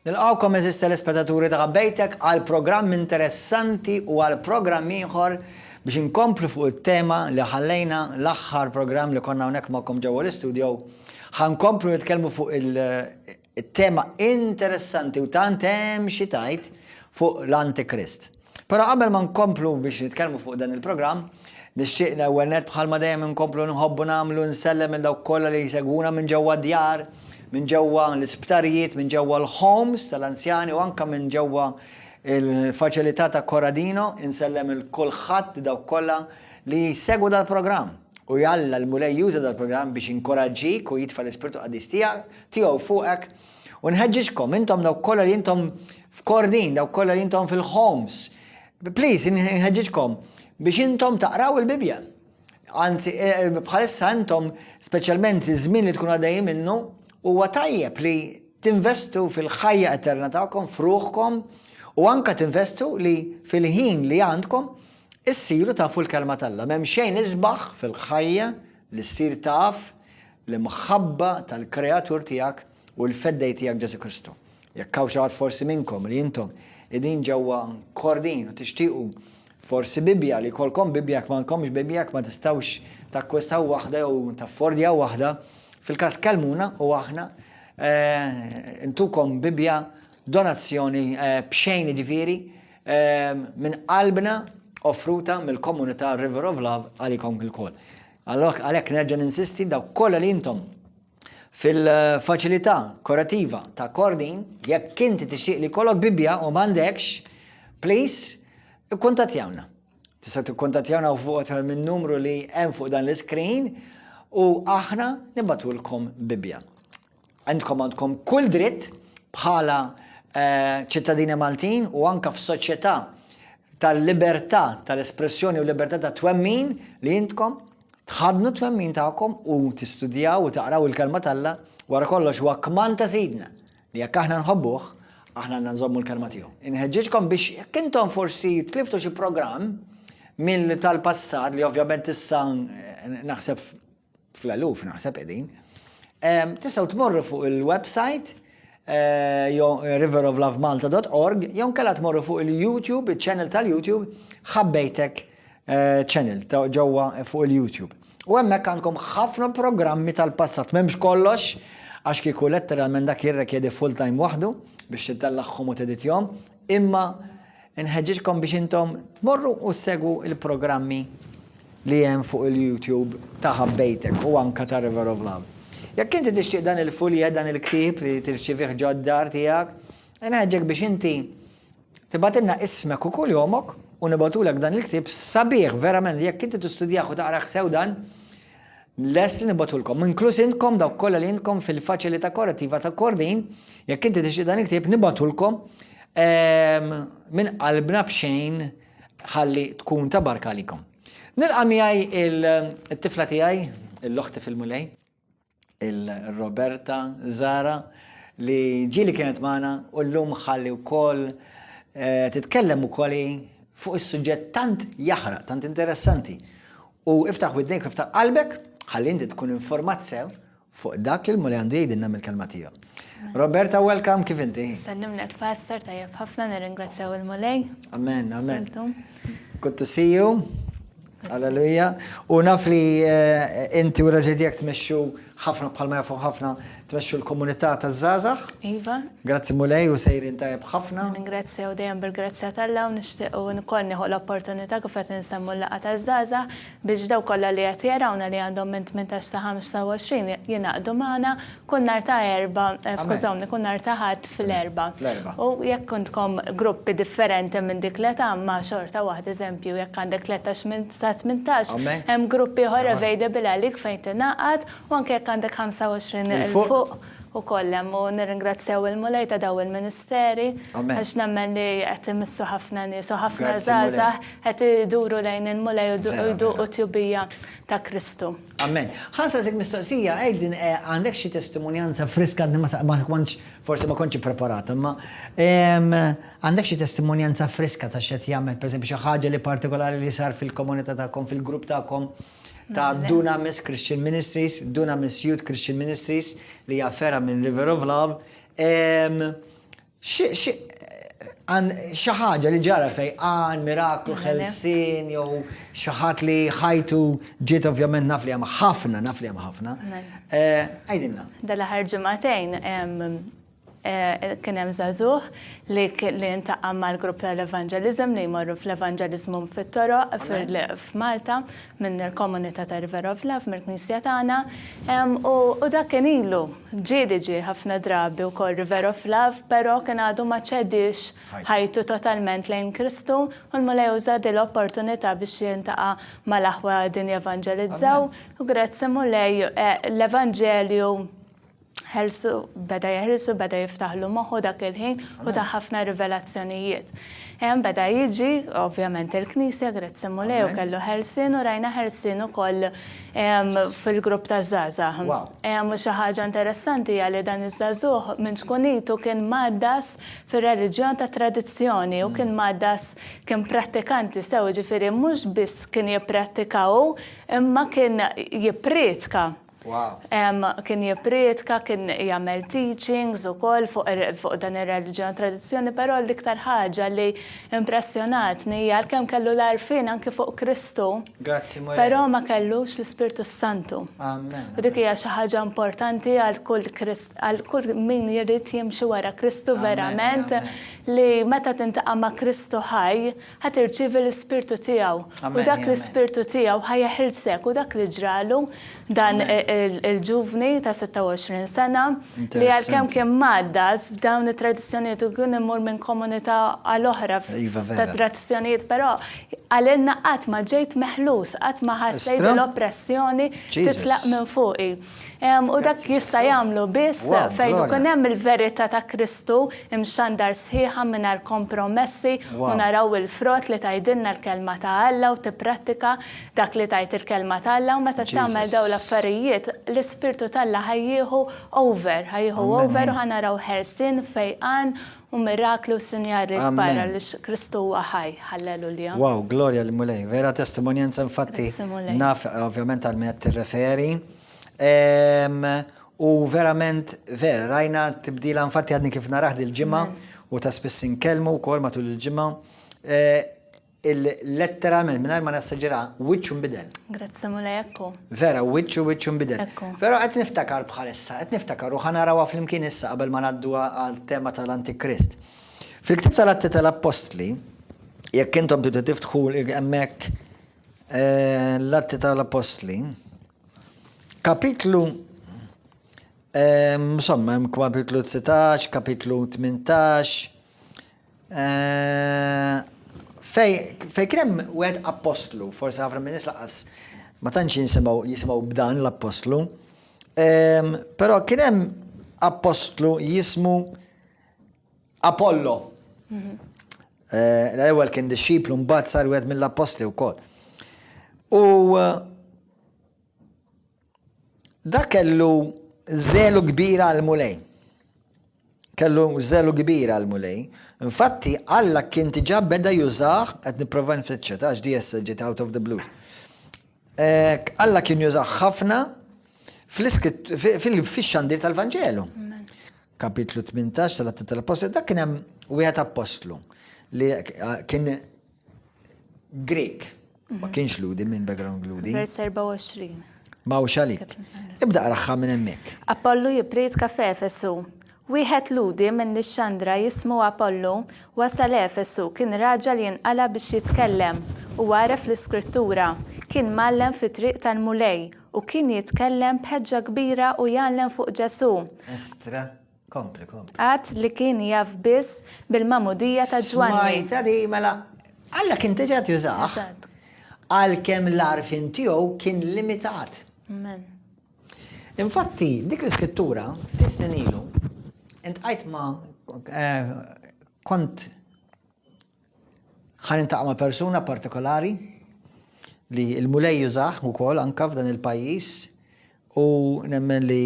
Nilqgħukom għeżież telespetaturi ta' Bejtek għal programm interessanti u għal programm ieħor biex inkomplu fuq it-tema li ħallejna l-aħħar programm li konna hawnhekk magħkom ġewwa l-istudio. Ħa nkomplu nitkellmu fuq it-tema interessanti u tant hemm xi tgħid fuq l-Antikrist. Però qabel ma nkomplu biex nitkellmu fuq dan il-programm, nixtieq l-ewwel nett bħalma dejjem inkomplu nħobbu nagħmlu nsellem minn dawk kollha li jsegwuna minn ġewwa d-djar, minn ġewwa l-isptarijiet, minn ġewwa l-homes tal-anzjani u anke minn ġewwa l-faċilità ta' Corradino, insellem 'il kulħadd dawk kollha li jsegwu dal-programm. U jalla l-Mulej juża dal-programm biex jinkoraġġik u jitfa' l-Ispirtu Qaddis tiegħu fuqek U nħeġġiġkom intom dawk kollha li intom f'kordin, dawk kollha li intom fil-homes. Please, nħeġġiġkom biex intom taqraw il-Bibja. Anzi, e, e, bħalissa intom, speċjalment iż-żmien li tkun għaddej minnu, huwa tajjeb li tinvestu fil-ħajja eterna tagħkom, fruħkom, u anka tinvestu li fil-ħin li għandkom issiru tafu l-kelma tal-la. Mem xejn isbaħ fil-ħajja li ssir taf l-imħabba tal-Kreatur tiegħek u l-Feddej tiegħek Ġesù Kristu. Jekk hawn xi ħadd forsi minnkom li intom qegħdin ġewwa kordin u tixtiequ forsi Bibbja li jkollkom Bibbja jekk m'għandkomx Bibbja jekk ma tistgħux takkwistaw waħda jew taffordja waħda, fil-każ kellmuna u aħna eh, intukom Bibbja donazzjoni eh, b'xejn ġifieri Minn qalbna offruta mill-Komunità River of Love għalikom ilkoll. Għalhekk nerġa' ninsisti dawk kollha li intom fil-faċilità korativa ta' Kordin, jekk inti tixtieq li kollok Bibbja u m'għandekx, please, ikkuntattjawna. Tista' tikkuntattjawna u fuq tal minn numru li hemm fuq dan l-iskrin u aħna nibatulkom Bibbja. Għandkom għandkom kull dritt bħala eh, ċittadini Maltin u anka f'soċjetà tal-libertà tal-espressjoni u libertà ta' twemmin li jintkom tħadnu twemmin tagħkom u tistudjaw u taqraw il-kelma talla wara kollox huwa kman ta' sidna Li jekk aħna nħobbuh, aħna għandna nżommu l-kelma tiegħu. Inħeġġiġkom biex jekk intom forsi tliftu xi programm mill tal-passat li ovvjament issa naħseb fl-eluf naħseb qegħdin. Tistgħu tmorru fuq il-website Eh, eh, riveroflovemalta.org, jew kella tmorru fuq il-YouTube, il-channel tal-YouTube, ħabbejtek eh, channel ġewwa fuq il-YouTube. U hemmhekk għandkom ħafna programmi tal-passat, m'hemmx kollox, għax kieku letteralment dak jirrekjedi full time waħdu biex titellaħħom u teditjom, imma nħeġġiġkom biex intom tmorru u segwu il-programmi li hemm fuq il-YouTube ta' ħabbejtek u anka ta' River of Love. Jekk inti tixtieq dan il-fuljet, dan il-ktib li tirċivih ġoddar tiegħek, nħeġġek biex inti Tibgħatilna ismek u kuljomok u nibgħatulek dan il-ktieb sabiħ verament li jekk inti tistudjah u taqrah sew dan, lest li nibgħatulkom. Inkluż intkom dawk kollha li intkom fil-Faċilità Korrettiva ta' Kordin, jekk inti tixtieq dan il-ktieb nibgħatulkom ehm, minn qalbna b'xejn ħalli tkun ta' barka għalikom. Nilqa' miegħi il-tifla tiegħi, l-oħti fil-mulej. il-Roberta Zara li ġili kienet magħna u llum ħalli wkoll eh, titkellem ukoll fuq is-suġġett tant jaħraq, tant interessanti. U iftaħ widnek, iftaħ qalbek, ħalli inti tkun informat sew fuq dak li l-muli għandu jgħidilna mill-kelma tiegħu. Roberta, welcome, kif inti? Sallimnek, Pastor, tajjeb ħafna, nirringrazzjaw il-mulej. Amen, amen. Good to see you. Alleluja. U naf li eh, inti u raġel tiegħek tmexxu ħafna bħalma jafu ħafna tmexxu l-komunità taż-żgħażagħ. Iva. Grazzi Mulej u sejrin tajjeb ħafna. Ningrazzja u dejjem bil-grazzja tal-la u nixtieq u nkoll nieħu l-opportunità kif qed insemmu l-laqgħa taż-żgħażagħ biex daw kollha li qed jarawna li għandhom minn 18 sa 25 jingħaqdu magħna Kull nhar ta' Erbgħa, skużawni, kull nhar ta' Ħadd fl-Erbgħa. Fl-Erbgħa. U jekk intkom gruppi differenti minn dik l-età, imma xorta waħda, eżempju, jekk għandek tletax minn sa tmintax, hemm grupp ieħor available għalik fejn tingħaqad, u anke jekk għandek ħamsa u għoxrin 'il fuq ukoll hemm. U nirringrazzjaw il-Mulej ta' dawn il-ministeri għax nemmen li qed imissu ħafna nies u ħafna żgħażagħ qed iduru lejn il-Mulej u jduqu t-tjubija ta' Kristu. Amen. Ħa nsaqsik mistoqsija, Aidan, għandek xi testimonjanza friska għadni ma ma kontx forsi ma kontx ippreparat, imma ehm, għandek xi testimonjanza friska ta' x'qed jagħmel, pereżempju xi ħaġa li partikolari li sar fil-komunità tagħkom, fil-grupp tagħkom ta' Dunamis Christian Ministries, Dunamis Youth Christian Ministries li hija ferra minn River of Love. Ehm, Xi ħaġa li ġara fejn għan, miraklu, ħelsien jew xi ħadd li ħajtu ġiet ovvjament naf li hemm ħafna, naf li hemm ħafna. Għidilna. Dal-aħħar ġimagħtejn kien hemm żagħżugħ li ntaqa' mal-grupp tal-evanġeliżem li jmorru fl-evanġeliżmu fit-toroq f'Malta. minn il-komunità ta' River of Love, mill-knisja tagħna, u dak kien ilu. Ġie li ġie ħafna drabi wkoll River of Love, però kien għadu ma ċediex ħajtu totalment lejn Kristu, u l-Mulej uża din l-opportunità biex jiltaqa' mal-aħwa qegħdin jevanġelizzaw, u grazzi Mulej l-Evanġelju ħelsu, beda jeħilsu, beda jiftaħlu moħħu dak il-ħin u ta' ħafna rivelazzjonijiet. Hemm beda jiġi, ovvjament il-Knisja, grazzi Mulej, u kellu ħelsien u rajna ħelsien ukoll fil-grupp ta' żgħażagħ. U xi ħaġa interessanti hija li dan iż-żagħżugħ minn ċkunitu kien mgħaddas fir-reliġjon tat-tradizzjoni u kien mgħaddas kien prattikanti sew, jiġifieri mhux biss kien jipprattika hu imma kien jipprietka. Kien jipprietka, kien jagħmel teachings ukoll fuq dan ir-reliġjon tradizzjoni, però l-iktar ħaġa li impressjonatni hija għalkemm kellu l-għarfien anki fuq Kristu, però ma kellux l-Ispirtu s-Santu. U dik hija xi ħaġa importanti għal kull għal kull min jrid jimxi wara Kristu verament li meta tintaqa' ma' Kristu ħaj, Ħa tirċievi l-Ispirtu tiegħu. U dak l-Ispirtu tiegħu ħa jeħilsek u dak li ġralu dan il-ġuvni ta' 26 sena li għalkemm kien maddas f'dawn it-tradizzjonijiet u kien imur minn komunità għal oħra iva, ta' tradizzjonijiet, però għalilna qatt ma ġejt meħlus, qatt ma ħassejt l-oppressjoni titlaq minn fuqi. U dak jista' jagħmlu biss fejn ikun hemm il-verità ta' Kristu imxandar sħiħa mingħajr kompromessi u naraw il-frott li tgħidilna l-Kelma ta' Alla u tipprattika dak li tgħid il-Kelma ta' Alla u meta tagħmel dawn l-affarijiet l-Ispirtu t'Alla ħa jieħu over, ħa jieħu over u ħa naraw ħelsien, fejqan Hu miraklu u sinjal li kbar għaliex Kristu huwa ħaj. Halleluja. Wow, glorja lill-Mulej. Vera testimonjanza infatti naf ovvjament għal min qed tirreferi. U verament vera rajna tibdila infatti għadni kif narah dil-ġimgħa u ta' spiss inkellmu wkoll matul il-ġimgħa. Il-letteralment, minn ma nassaġira, wiċċu nbidel. Grazzi mulej ekku. Vera, wiċċu wiċċu nbidel. Ekku. Vera, qed niftakar bħal issa, qed niftakar u ħanarawa flimkien issa qabel ma naddu għal tema tal-Antikrist. Fil-ktib tal-Atti tal-Appostli, jekk intom tidu tiftħu hemmhekk eh, l-Atti tal-Apostli, kapitlu eh, insomma hemm kapitlu 19, kapitlu 18, Fejn kien hemm wieħed appostlu, forsi ħafna minn nies laqas ma tantx jinsimgħu jisimgħu b'dan l-appostlu, però kien hemm appostlu jismu Apollo. Mhm. Eh, l-ewwel kien dixxiplu mbagħad sar wieħed mill-appostli wkoll. U eh, Dak kellu żelu kbir għall-Mulej. Kellu żelu kbir għall-Mulej. Infatti, Alla kien diġà beda jużah, qed nipprova nfittxha, tax di issa ġiet out of the blues. Alla kien jużah ħafna fil-xandir tal-Vanġelu. Kapitlu 18 tal-Atti tal-Apostli, dak kien hemm wieħed apostlu li kien Grek. Ma kienx ludi minn background ludi. Vers 24. Ma u xalik. Ibda raħħa minn emmek. Apollu jipritka f'Efesu. Wieħed ludi minn Nixxandra jismu Apollu wasal Efesu kien raġel jinqala biex jitkellem u għaref l-iskrittura. Kien mgħallem fit-triq tal-Mulej u kien jitkellem b'ħeġġa kbira u jgħallem fuq Ġesu. Estra Kompli, kompli. Għad li kien jaf biss bil-magħmudija ta' Ġwanni. Smajta di, mela, Alla kien tiġa jużax. Għalkemm l-arfin tiegħu kien limitat. Amen. Infatti, dik l-iskrittura, tisnin ilu, intqajt ma eh, kont Ħa niltaqa' ma' persuna partikolari li l-Mulej jużah ukoll anke f'dan il-pajjiż u nemmen li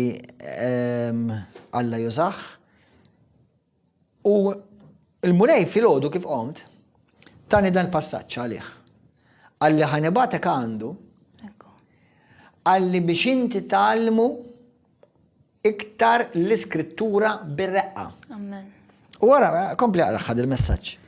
ehm, Alla jużah. U l-Mulej filgħodu kif qomt tani dan il-passaġġ għalih. Għalli ħanibatek għandu għalli biex inti talmu iktar l-iskrittura bir-reqqa. Amen. U għara, kompli għara ħad il-messagġ.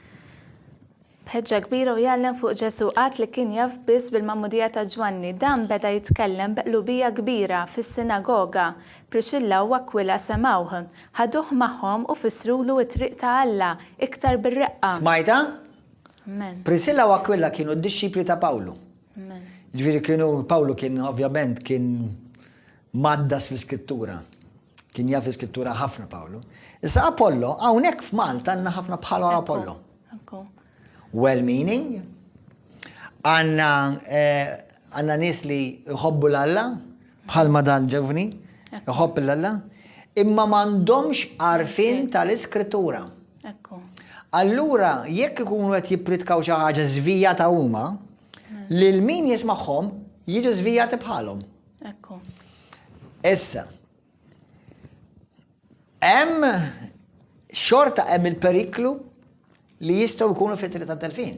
Bħedġa kbira u jgħallem fuq Ġesu għat li kien jaf biss bil-mammudija ta' Ġwanni, dan beda jitkellem b'qlubija kbira fis-sinagoga. Prixilla u Akwila semgħuh, ħaduh magħhom u fissrulu t-triq ta' Alla iktar bir-reqqa. Smajta? Amen. Prisilla u Akwila kienu d-dixxipli ta' Pawlu. Amen. Ġifieri kienu Pawlu kien ovvjament kien Mgħaddas fl-Iskrittura. Kien jaf l-Iskrittura ħafna Pawlu. Issa Apollo, hawnhekk f'Malta għandna ħafna bħal Apollo. Well-meaning, għanna eh, għanna nis li jħobbu l-Alla, bħal madan ġevni, jħobb l-Alla, imma mandomx arfin tal-iskrittura. Allura, jekk ikunu għet jipritkaw xi ħaġa żvijata huma, lil min jismagħhom jiġu żvijati bħalhom. Ekku. Issa, hemm xorta hemm il-periklu li jistgħu jkunu fitri ta' delfin.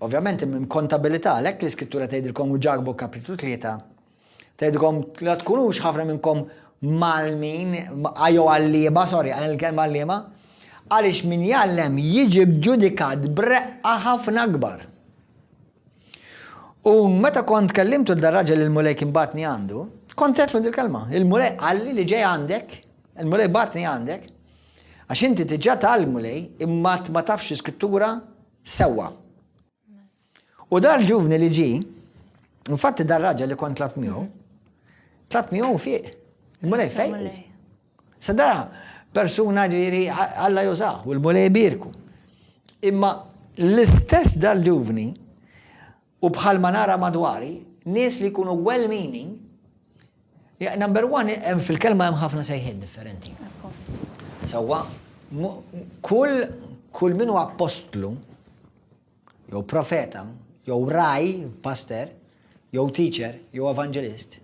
Ovvjament hemm kontabilità għalhekk l-iskrittura tgħidilkom u ġarbu kapitlu tlieta. Tgħidilkom la tkunux ħafna minnkom malmin, jew għalliema, sorry, għal kelma għalliema, għaliex min jgħallem jiġi bġudikat breqqa ħafna akbar. U meta kont kellimtu l raġel il-Mulej kien batni għandu, kont għetlu dil-kelma. Il-Mulej għalli li ġej għandek, il-Mulej batni għandek, għax inti tiġa tal-Mulej imma ma tafx skrittura sewa. U dar ġuvni li ġi, infatti dar raġel li kont tlab miegħu, tlab miegħu fiq. Il-Mulej fej. Sa da persuna ġviri Alla jużah u l-Mulej jbierku. Imma l-istess dal-ġuvni u bħal ma nara madwari, nies li jkunu well-meaning, number one, fil-kelma hemm ħafna sejħiet differenti. Sawa, kull kull minu appostlu jew profeta, jew ragħaj, paster, jew teacher, jew evanġelist,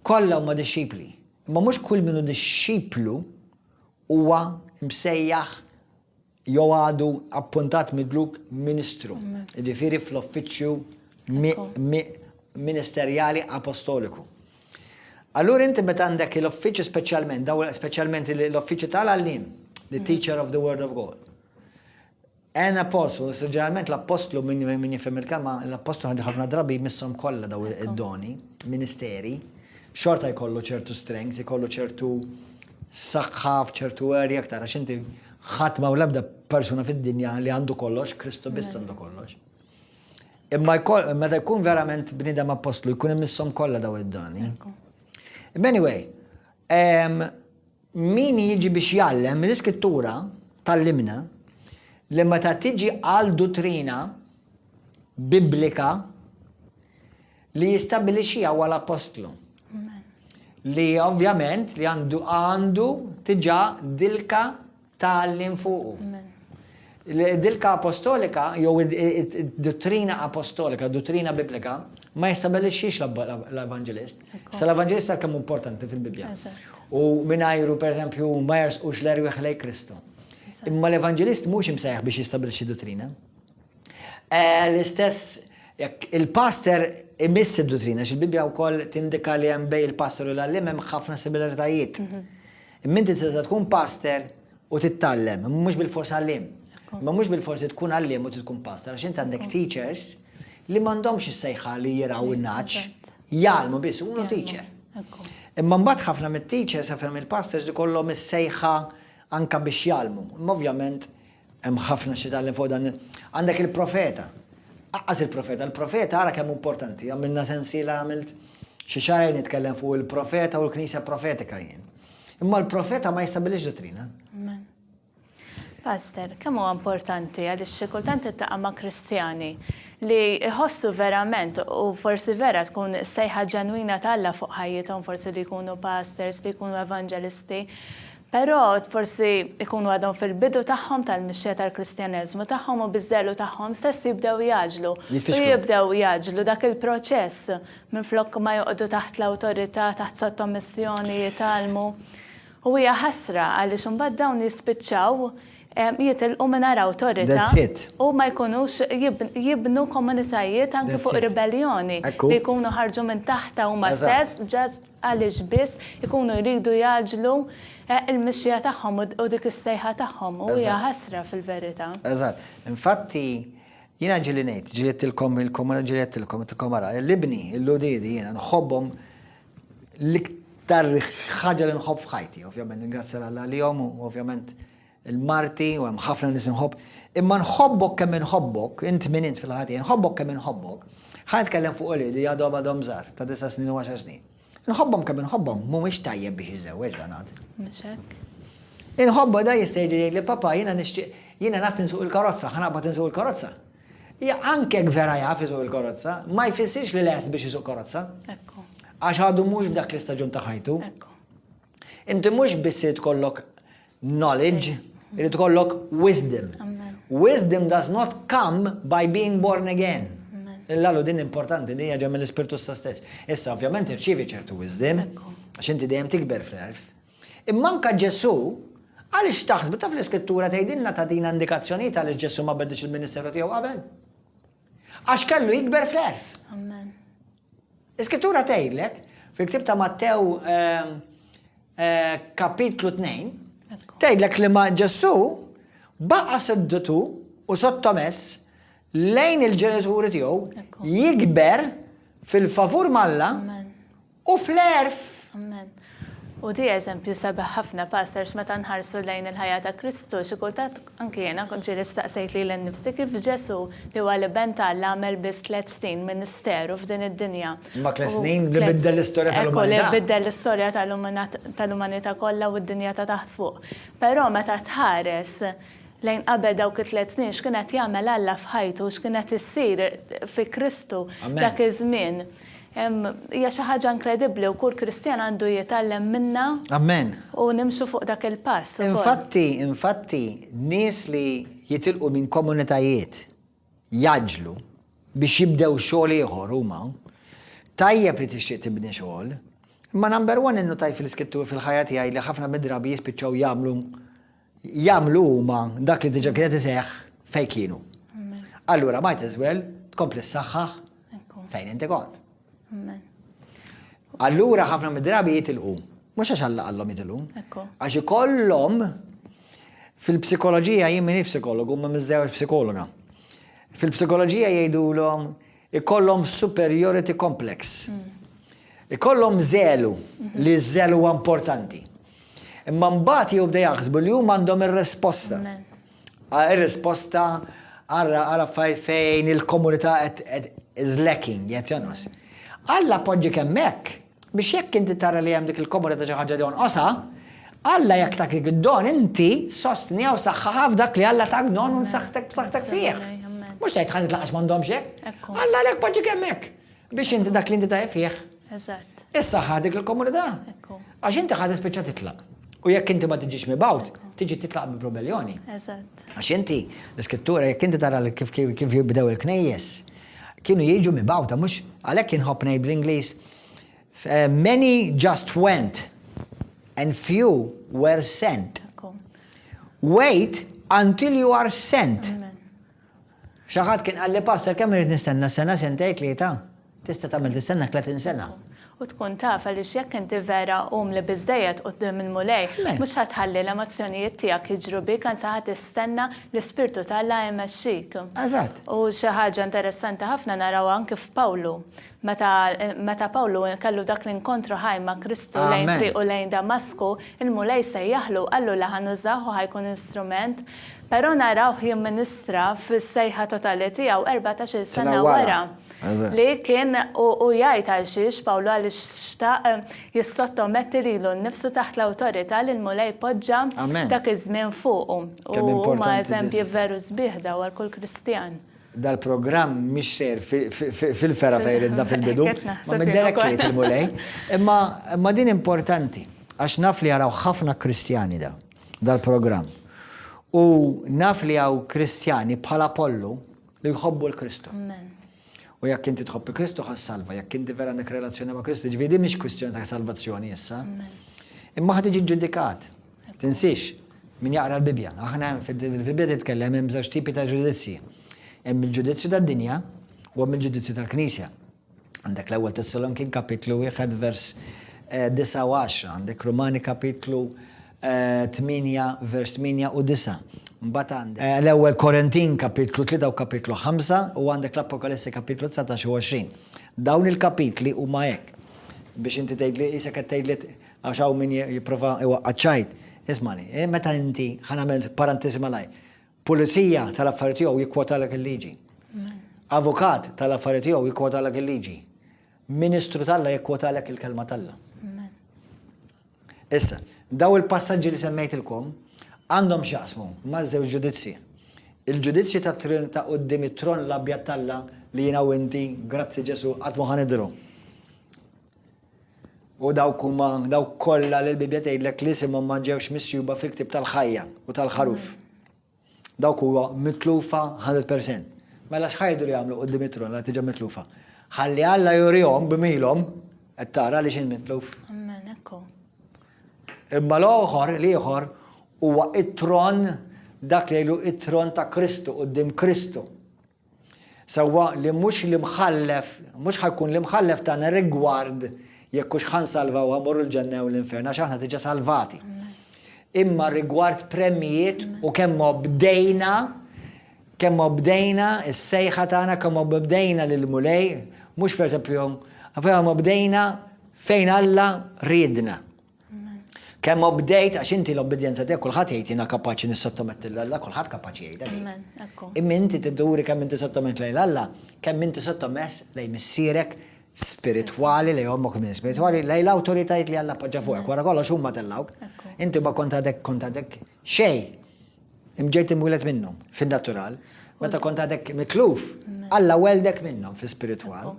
kollha huma dixxipli. Imma mhux kull min hu dixxiplu huwa msejjaħ jew għadu appuntat midluk ministru, jiġifieri fl-uffiċċju ministerjali apostoliku. Allura inti meta għandek l-uffiċċju speċjalment, daw speċjalment l-uffiċċju tal-għallim, the teacher of the word of God. An Apostle, issa ġeneralment l-appostlu, min min jifhem il-kelma, l-appostlu ħad ħafna drabi jmisshom kollha daw id-doni, ministeri, xorta jkollu ċertu strength, jkollu ċertu saħħa f'ċertu area aktar, għax inti ħadd ma' l-ebda persuna fid-dinja li għandu kollox, Kristu biss għandu kollox. Imma meta jkun verament bnidem apostlu, jkun imissom kollha daw id-dani. Anyway, Min jiġi biex jgħallem, l-Iskrittura tgħallimna li meta tiġi għal duttrina Biblika li jistabbilixxiha huwa l-Appostlu. Li ovvjament li għandu għandu tiġa dilka tgħallim fuqu. Id-dilka apostolika jew id-duttrina apostolika, duttrina Biblika, ma jistabbilixxix l-Evanġelist. Sa l-Evanġelist għal kemm hu importanti fil-Bibbja. U mingħajru pereżempju ma jersqux l-erwieħ lejn Kristu. Imma l-Evanġelist mhux imsejjaħ biex jistabbilixxi duttrina. L-istess jekk il-pastor imiss id-duttrina, għax il-Bibbja wkoll tindika li hemm bejn il-pastor u l-għalliem hemm ħafna similaritajiet. Imma inti tista' tkun pastor U tittallem, imma mhux bil-fors għalliem. Imma mhux bil-fors tkun għalliem u tkun pastor, għax int għandek teachers li m'għandhomx is-sejħa li jiraw in-naċ, jgħalmu biss, huma teacher. Imma mbagħad ħafna mit-teachers għafem il-pastors li kollhom is-sejħa anka biex jalmu. Imma ovvjament hemm ħafna xi tal fuq dan. Għandek il-profeta. Aqqas il-profeta, il-profeta ara kemm importanti, għamilna sensiela għamilt xi xahar nitkellem fuq il-profeta u l-knisja profetika jien. Imma l-profeta ma jistabilix dottrina. Pastor, kemm huwa importanti għaliex xi kultant ittaqa' ma' Kristjani li jħossu verament u forsi vera tkun sejħa ġenwina talla fuq ħajjithom forsi li jkunu pastors, li jkunu evangelisti, però forsi jkunu għadhom fil-bidu tagħhom tal-mixja tal-Kristjaneżmu tagħhom u biżżelu tagħhom stess jibdew jaġlu. Jibdew jaġlu dak il-proċess minflok ma joqogħdu taħt l-awtorità, taħt sottomissjoni jitgħallmu. U hija ħasra għaliex imbagħad dawn jispiċċaw jitilqu mingħajr awtorità u ma jkunux jibnu komunitajiet anki fuq ribelljoni li jkunu ħarġu minn taħtha huma stess just għaliex biss ikunu jridu jgħaġġlu l-mixja tagħhom u dik is-sejħa tagħhom u hija ħasra fil-verità. Eżatt. Infatti Jiena ġieli ngħid, ġilidtilkom lilkom u ġilidtilkom, għidtilkom ara, l-ibni, l-uliedi jiena nħobbhom l-iktar ħaġa li nħobb f'ħajti, ovvjament ningrazzja l Alla għalihom u ovvjament il-marti u hemm ħafna nies inħobb. Imma nħobbok kemm inħobbok, int min int fil-ħajja tiegħi, nħobbok kemm inħobbok, ħa nitkellem fuq uliedi li għadhom għadhom żgħar ta' disa' snin u għaxar snin. Nħobbhom kemm inħobbhom mhumiex tajjeb biex jiżewweġ dan għad. Mhux hekk. Inħobba da jista' jiġi jgħid li papa jiena nixtieq jiena naf insuq il-karozza, ħanaqbad insuq il-karozza. Ja anke vera jaf isuq il-karozza, ma jfissirx li lest biex isuq karozza. Ekku. Għax għadu mhux f'dak l-istaġun ta' ħajtu. Ekku. Inti mhux biss kollok Knowledge, irid ikollok wisdom. Wisdom does not come by being born again. Il-lalu din importanti, din ġem l-ispirtu sa stess. Issa, ovvjament, irċivi ċertu wisdom, xinti dejjem tikber fl-erf. Imma anka Ġesu, għaliex taħsbu taf l-iskrittura tgħidilna tatina indikazzjonijiet għaliex Ġesu ma bedix il-ministeru tiegħu qabel? Għax kellu jikber fl-erf. Amen. Iskrittura tgħidlek fil-ktib ta' Mattew eh, eh, kapitlu 2, tgħidlek li ma' Ġesù baqa' seddutu u sottomess lejn il-ġenituri tiegħu jikber fil-favur malla u fl-għerf. Amen. U di eżempju sabiħ ħafna Pastor x'meta nħarsu lejn il-ħajja ta' Kristu xi kultant anki jiena kont ġieli staqsejt lili nnifsi kif Ġesù li huwa l-Iben ta' Alla għamel biss tliet snin ministeru f'din id-dinja. Imma tliet snin li biddel l-istorja tal-umanità. Ekku li biddel l-istorja tal-umanità kollha u d-dinja ta' taħt fuq. Però meta tħares lejn qabel dawk it-tliet snin, x'kien qed jagħmel Alla f'ħajtu, x'kien qed issir fi Kristu dak iż-żmien. Hija xi ħaġa inkredibbli u kull Kristjan għandu jitgħallem minnha u nimxu fuq dak il-pass. Infatti, infatti, nies li jitilqu minn komunitajiet jgħaġġlu biex jibdew xogħol ieħor huma. Tajjeb li tixtieq tibni xogħol, imma number one innutajt fil-Iskrittur fil-ħajja tiegħi li ħafna mid-drabi jispiċċaw jagħmlu jagħmlu huma dak li diġà kien qed iseħħ fejn kienu. Allura might as well tkompli ssaħħaħ fejn inti kont. Allura ħafna mid-drabi jitilqu. Mhux għax Alla qallhom jitilqu. Għax ikollhom fil-psikoloġija jien minni psikologu ma miżżewġ psikologa. Fil-psikoloġija jgħidulhom Ikollhom superiority complex. Ikollhom żelu, li ż-żel huwa importanti. Imma mbagħad jibda jaħsbu li huma għandhom ir-risposta. Ir-risposta għal affarijiet fejn il-komunità qed is lacking, qed jonqos. Alla poġġi kemm hekk. Biex jekk inti tara li hemm dik il-komodità xi ħaġa li jonqosha, Alla jekk tatik id-don, inti sostniha u saħħaħha f'dak li Alla tak don u nsaħħtek b'saħħtek fih. Mhux tgħid ħadd lanqas m'għandhomx hekk. Alla għalhekk poġġiek hemmhekk biex inti dak li inti tajjeb fih. Eżatt. Issaħħaħ dik il-komunità. Għax inti ħadd spiċċa titlaq. U jekk inti ma tiġix mibgħut, tiġi titlaq bi probelloni. Eżatt. Għax inti, l-iskrittura, jekk inti tara kif jibdew il-knejjes, Kienu jiġu mibgħuta, mhux? Għalhekk inħobb ngħid bl-Ingliż, Many just went and few were sent. Wait until you are sent. Xaħat kien għalli pastor kemm irid nistenna sena sentej tlieta. Tista' tagħmel tistenna 30 sena. U tkun taf, għaliex jekk inti vera umli biżżejjed quddiem il-Mulej, mhux ħa tħalli l-emozzjonijiet tiegħek jiġru bik, anzi ħa tistenna li Spirtu t'Alla jmexxik. Eżatt. U xi ħaġa interessanti ħafna narawha anki f'Pawlu. Meta meta Pawlu kellu dak l-inkontru ħaj ma' Kristu lejn triqu lejn Damasku, il-Mulej sejjaħlu u qallu li ħa nużah u ħa jkun instrument. Però narawh jimministra fis-sejħa totali tiegħu erbatax-il sena wara. li kien u jgħid għalxiex Pawlu għaliex xtaq jissottometti lilu nnifsu taħt l-awtorità li l-Mulej poġġa dak iż-żmien fuqu. U huma eżempji veru sbieħ daw għal kull Kristjan. Dal-programm mhix ser fil-fera fejn ridna fil-bidu, ma mid-derek jgħid il-Mulej. Imma din importanti għax naf li jaraw ħafna Kristjani da dal-programm. U naf li hawn Kristjani bħal Apollu Li jħobbu l-Kristu. U jekk inti tħobbi Kristu ħas salva, jekk inti vera għandek relazzjoni ma' Kristu, ġvidi mhix kwistjoni ta' salvazzjoni issa. Imma ħad iġi ġudikat. Tinsiex, min jaqra l-Bibja. Aħna fil-Bibja titkellem hemm żewġ tipi ta' ġudizzji. Hemm il-ġudizzju tad-dinja u hemm il-ġudizzju tal-Knisja. Għandek l-Ewwel Tessalonkin kapitlu wieħed vers disa' u għaxra, għandek Rumani kapitlu tmienja vers tmienja u disa'. Mbagħad għandek l-Ewwel Korintin kapitlu tlieta u kapitlu ħamsa u għandek l-Apokalissi kapitlu 19 u 20. Dawn il-kapitli huma hekk biex inti tgħidli isek qed tgħidli għax hawn min jipprova iwaqqaċ ċajt. Ismani, meta inti ħanamel parantiżi malajr. Pulizija tal-affarijiet tiegħu jikkwotalek il-liġi. Avukat tal-affarijiet tiegħu jikkwotalek il-liġi. Ministru tal-la jikkwotalek il-kelma tal-la. Issa, daw il-passaġġi li semmejtilkom għandhom xaqsmu ma' żewġ ġudizzji. Il-ġudizzju ta' trin ta' qoddim it-tron l-abjad talla li jina u inti, grazzi Ġesu, għatmu ħanidru. U dawk huma dawk kollha li l-Bibbja tgħidlek li isimhom ma ġewx misjuba fil-ktieb tal-ħajja u tal-ħaruf. Dawk huwa mitlufa 100%. Mela xħajdu li jagħmlu qudiem it-tron la tiġa mitlufa. Ħalli Alla jurihom b'milhom qed tara li x'in mitluf. Amen, ekku. Imma l-oħor, l-ieħor huwa it-tron dak li jgħidu it-tron ta' Kristu qudiem Kristu. Sewwa li mhux l-imħallef, mhux ħa jkun l-imħallef tagħna rigward jekk hux ħa nsalva u ħa mmorru l-ġenna jew l-infern, għax aħna diġà salvati. Imma rigward premjijiet u kemm obdejna, kemm obdejna s-sejħa tagħna, kemm obdejna lil Mulej, mhux pereżempju, għafem obdejna fejn Alla riedna. Kemm obdejt għax inti l-obbedjenza tiegħek kulħadd jgħid jiena kapaċi nissottometti lil Alla, kulħadd kapaċi jgħidha din. Imma inti tidduri kemm inti sottomett lejn Alla, kemm inti sottomess lejn missierek spiritwali, lejn ommok minn spiritwali, lejn l-awtoritajiet li Alla poġġa fuqek. Wara kollox huma tellgħuk. Inti ma kont għadek kont għadek Xejn. Imġejt imwieled minnhom fin-natural. Meta kont għadek mikluf, Alla weldek minnhom fi spiritwal.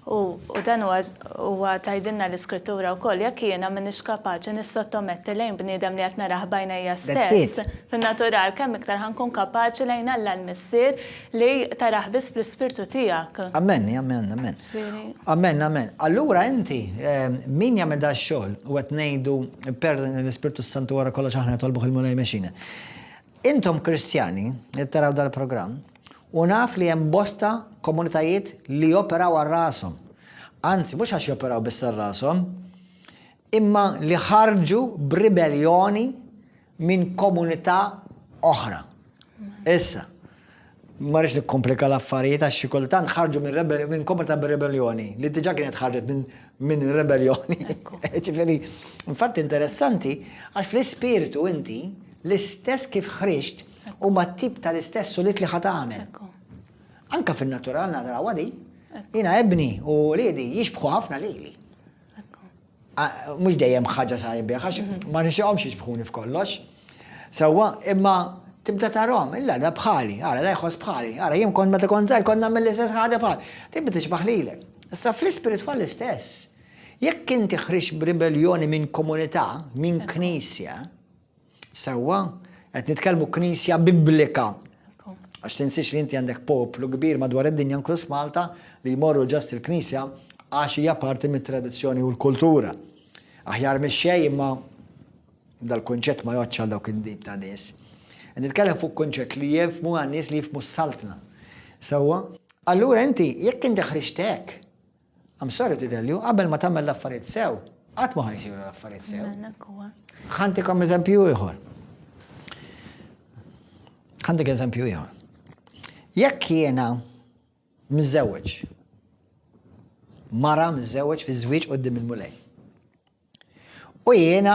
U dan huwa tajdinna l-iskrittura wkoll jekk jiena m'iniex kapaċi nissottometti lejn bniedem li qed narah b'għajnejja stess fin-natural kemm iktar ħankun kapaċi lejn Alla l-Missier Li tarah biss fl-ispirtu tiegħek. Amen, amen, amen. Amen, amen. Allura inti min jagħmel da xogħol u qed ngħidu per l-Ispirtu Santu wara kollox aħna tolbuh il-Mulej mexina. Intom Kristjani li taraw dal-programm u naf li hemm bosta komunitajiet li joperaw għal rashom. Anzi, mhux għax joperaw biss għal rashom, imma li ħarġu b'ribelljoni minn komunità oħra. Issa, ma rridx nikkomplika l-affarijiet għax xi kultant ħarġu minn komunità bir-rebelljoni li diġà kienet ħarġet minn minn rebelljoni. Ġifieri, infatt interessanti għax fl-ispirtu inti l-istess kif ħriġt u ma tip tal-istess sulit li ħat għamel. Anka fin-natural nadraw għadi, jina ebni u liedi jixbħu ħafna lili. Mhux dejjem ħaġa sabiħ, għax ma nixtieqhomx jiġbħuni f'kollox. Sewwa, imma tibda tarhom, illa da bħali, ara da jħoss bħali, ara jien kont meta kont żgħir kont nagħmel l-istess ħaġa bħal. Tibda tixbaħ lilek. Issa fl-ispiritwal l-istess. Jekk inti ħriġ b'ribelljoni minn komunità, minn knisja, Sewwa, qed nitkellmu knisja biblika. Għax tinsiex li inti għandek poplu kbir madwar id-dinja inkluż Malta li jmorru ġast il-knisja għax hija parti mit-tradizzjoni u l-kultura. Aħjar mix xej imma dal-kunċett ma joċċa dawk id-dib ta' nies. Nitkellem fuq kunċett li jifmu għan nies li jifmu s-saltna. Sewwa, allura inti jekk inti ħriġtek I'm sorry to tell you, qabel ma tagħmel l-affarijiet sew, qatt ma ħajsiru l-affarijiet sew. Ħantikom eżempju ieħor. Ħantik eżempju ieħor. Jekk jiena mżewweġ, mara mżewweġ fi żwieġ qudiem il-mulej. U jiena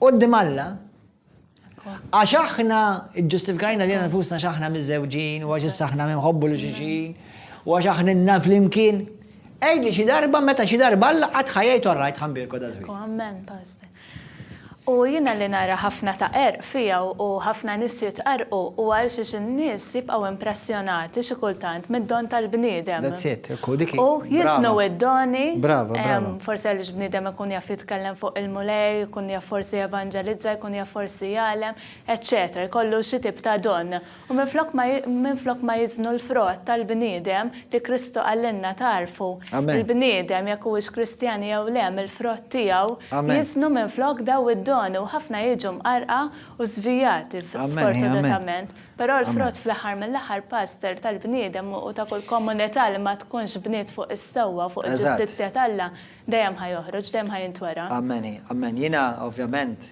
Quddiem Alla, għax aħna ġġustifikajna lilna nfusna għax aħna miżżewġin u għax issa aħna minħobbu li xixin u għax aħna nna flimkien. Għid li xi darba meta xi darba Alla qatt ħajjajtu rajt ħambirko da żwieġ. Amen, Pastor. U jiena li nara ħafna ta' erq fiha u ħafna nies jitqarrqu huwa għal xiex in-nies jibqgħu impressjonati xi kultant mid-don tal-bniedem. That's it, ekku, dik hi. U jiżnu id-doni. Brava, brava. Forsi għaliex bniedem ikun jaf jitkellem fuq il-Mulej, ikun jaf forsi jevanġelizza, jkun jaf forsi jgħallem, eċċetera, jkollu xi tip ta' don. U minflok ma, minflok ma jiżnu l-frott tal-bniedem li Kristu qalilna tagħrfu, Amen. il-bniedem jekk huwiex Kristjan jew le mill-frott tiegħu, Amen. jiżnu minflok daw id-doni u ħafna jiġu mqarrqa u żvijati f- Amen, amen. sfortunatament. Però Amen. l-frott fl-aħħar mill-aħħar, Pastor, tal-bniedem u ta' kull komunità li ma tkunx bniet fuq is-sewwa u fuq Eżatt. il-ġustizzja t'Alla, dejjem ħa joħroġ, dejjem ħa jintwera. Amen, amen. Jiena ovvjament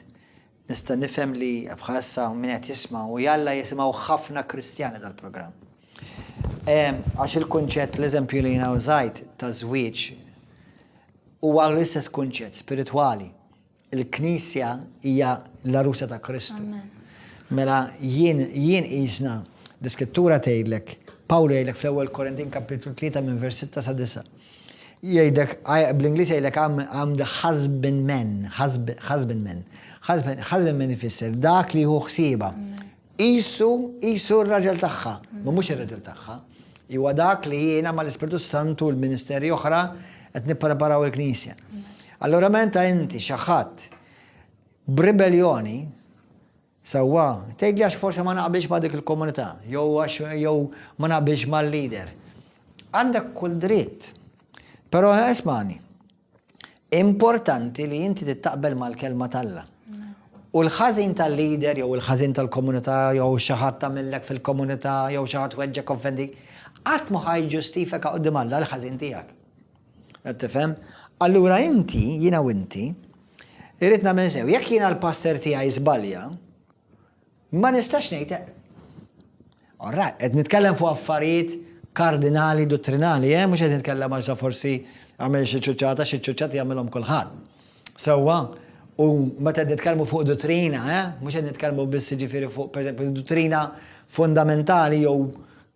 Nista' nifhem li bħalissa hawn min qed jisma' u jalla jisimgħu ħafna Kristjani dal-programm. Għax il-kunċett, l-eżempju li jiena użajt ta' żwieġ huwa l-istess kunċett spiritwali. Il-Knisja hija l-arusa ta' Kristu. Mela jien jien qisna l-iskrittura tgħidlek, Pawlu jgħidlek fl-ewwel Korintin kapitlu 3 minn vers 6 sa 9. Jgħidlek, bl-Ingliż jgħidlek I am, I am the husband man, husb, husband man. Husband, husband man ifisser dak li jieħu ħsiebha. Qisu, qisu r-raġel tagħha, ma mhux ir-raġel tagħha. Iwa dak li jiena ma l-Ispirtu Santu l-ministeri oħra qed nippreparaw il-Knisja. Allora menta inti xi ħadd b'ribeljoni Sewwa, tgħidli għax forsi ma naqbilx ma' dik il-komunità, jew għax jew ma naqbilx mal-leader. Għandek kull dritt. Però ismagħni, importanti li inti tittaqbel mal-Kelma t'Alla. U l-ħażin tal-leader jew il-ħażin tal-komunità jew xi ħadd tagħmillek fil-komunità jew xi ħadd weġġgħek offendik, qatt ma ħa jiġġustifika quddiem Alla l-ħażin tiegħek. Qed tifhem? Allura inti, jiena u inti, irrid nagħmel sew, jekk jiena l-passer tiegħi żbalja, ma nistax ngħid eh. Orra, qed nitkellem fuq affarijiet kardinali dottrinali, eh, mhux qed nitkellem għax forsi għamel xi ċuċċata, xi ċuċċati jagħmilhom kulħadd. Sewwa, u meta nitkellmu fuq dottrina, eh, mhux qed nitkellmu biss ġifieri fuq pereżempju dottrina fundamentali jew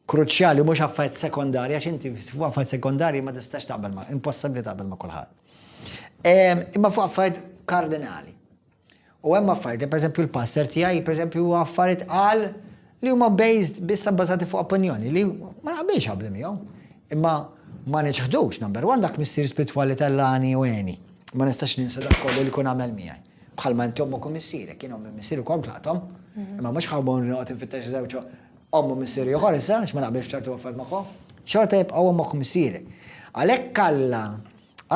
kruċjali mhux affarijiet sekondarji għax inti fuq affarijiet sekondarji ma tistax taqbel ma' impossibbli taqbel ma' kulħadd. Ehm, imma fuq affarijiet kardinali. U hemm affarijiet li pereżempju l-pastor tiegħi pereżempju huwa affarijiet qal li huma based biss bbażati fuq opinjoni li ma naqbilx qabli miegħu. Imma ma niċħdux number one dak missier spirtwali tal-lani u għeni. Ma nistax ninsa dak kollu li kun għamel miegħi. Bħalma intom u kumissiri, kienu minn missier u komplatom, mhm. imma mhux ħawbon li noqgħod infittex żewġ Omm u missier ieħor issa, għax ma naqbilx f'ċertu affarijiet magħhom, xorta jibqgħu ommok u missierek. Għalhekk Alla,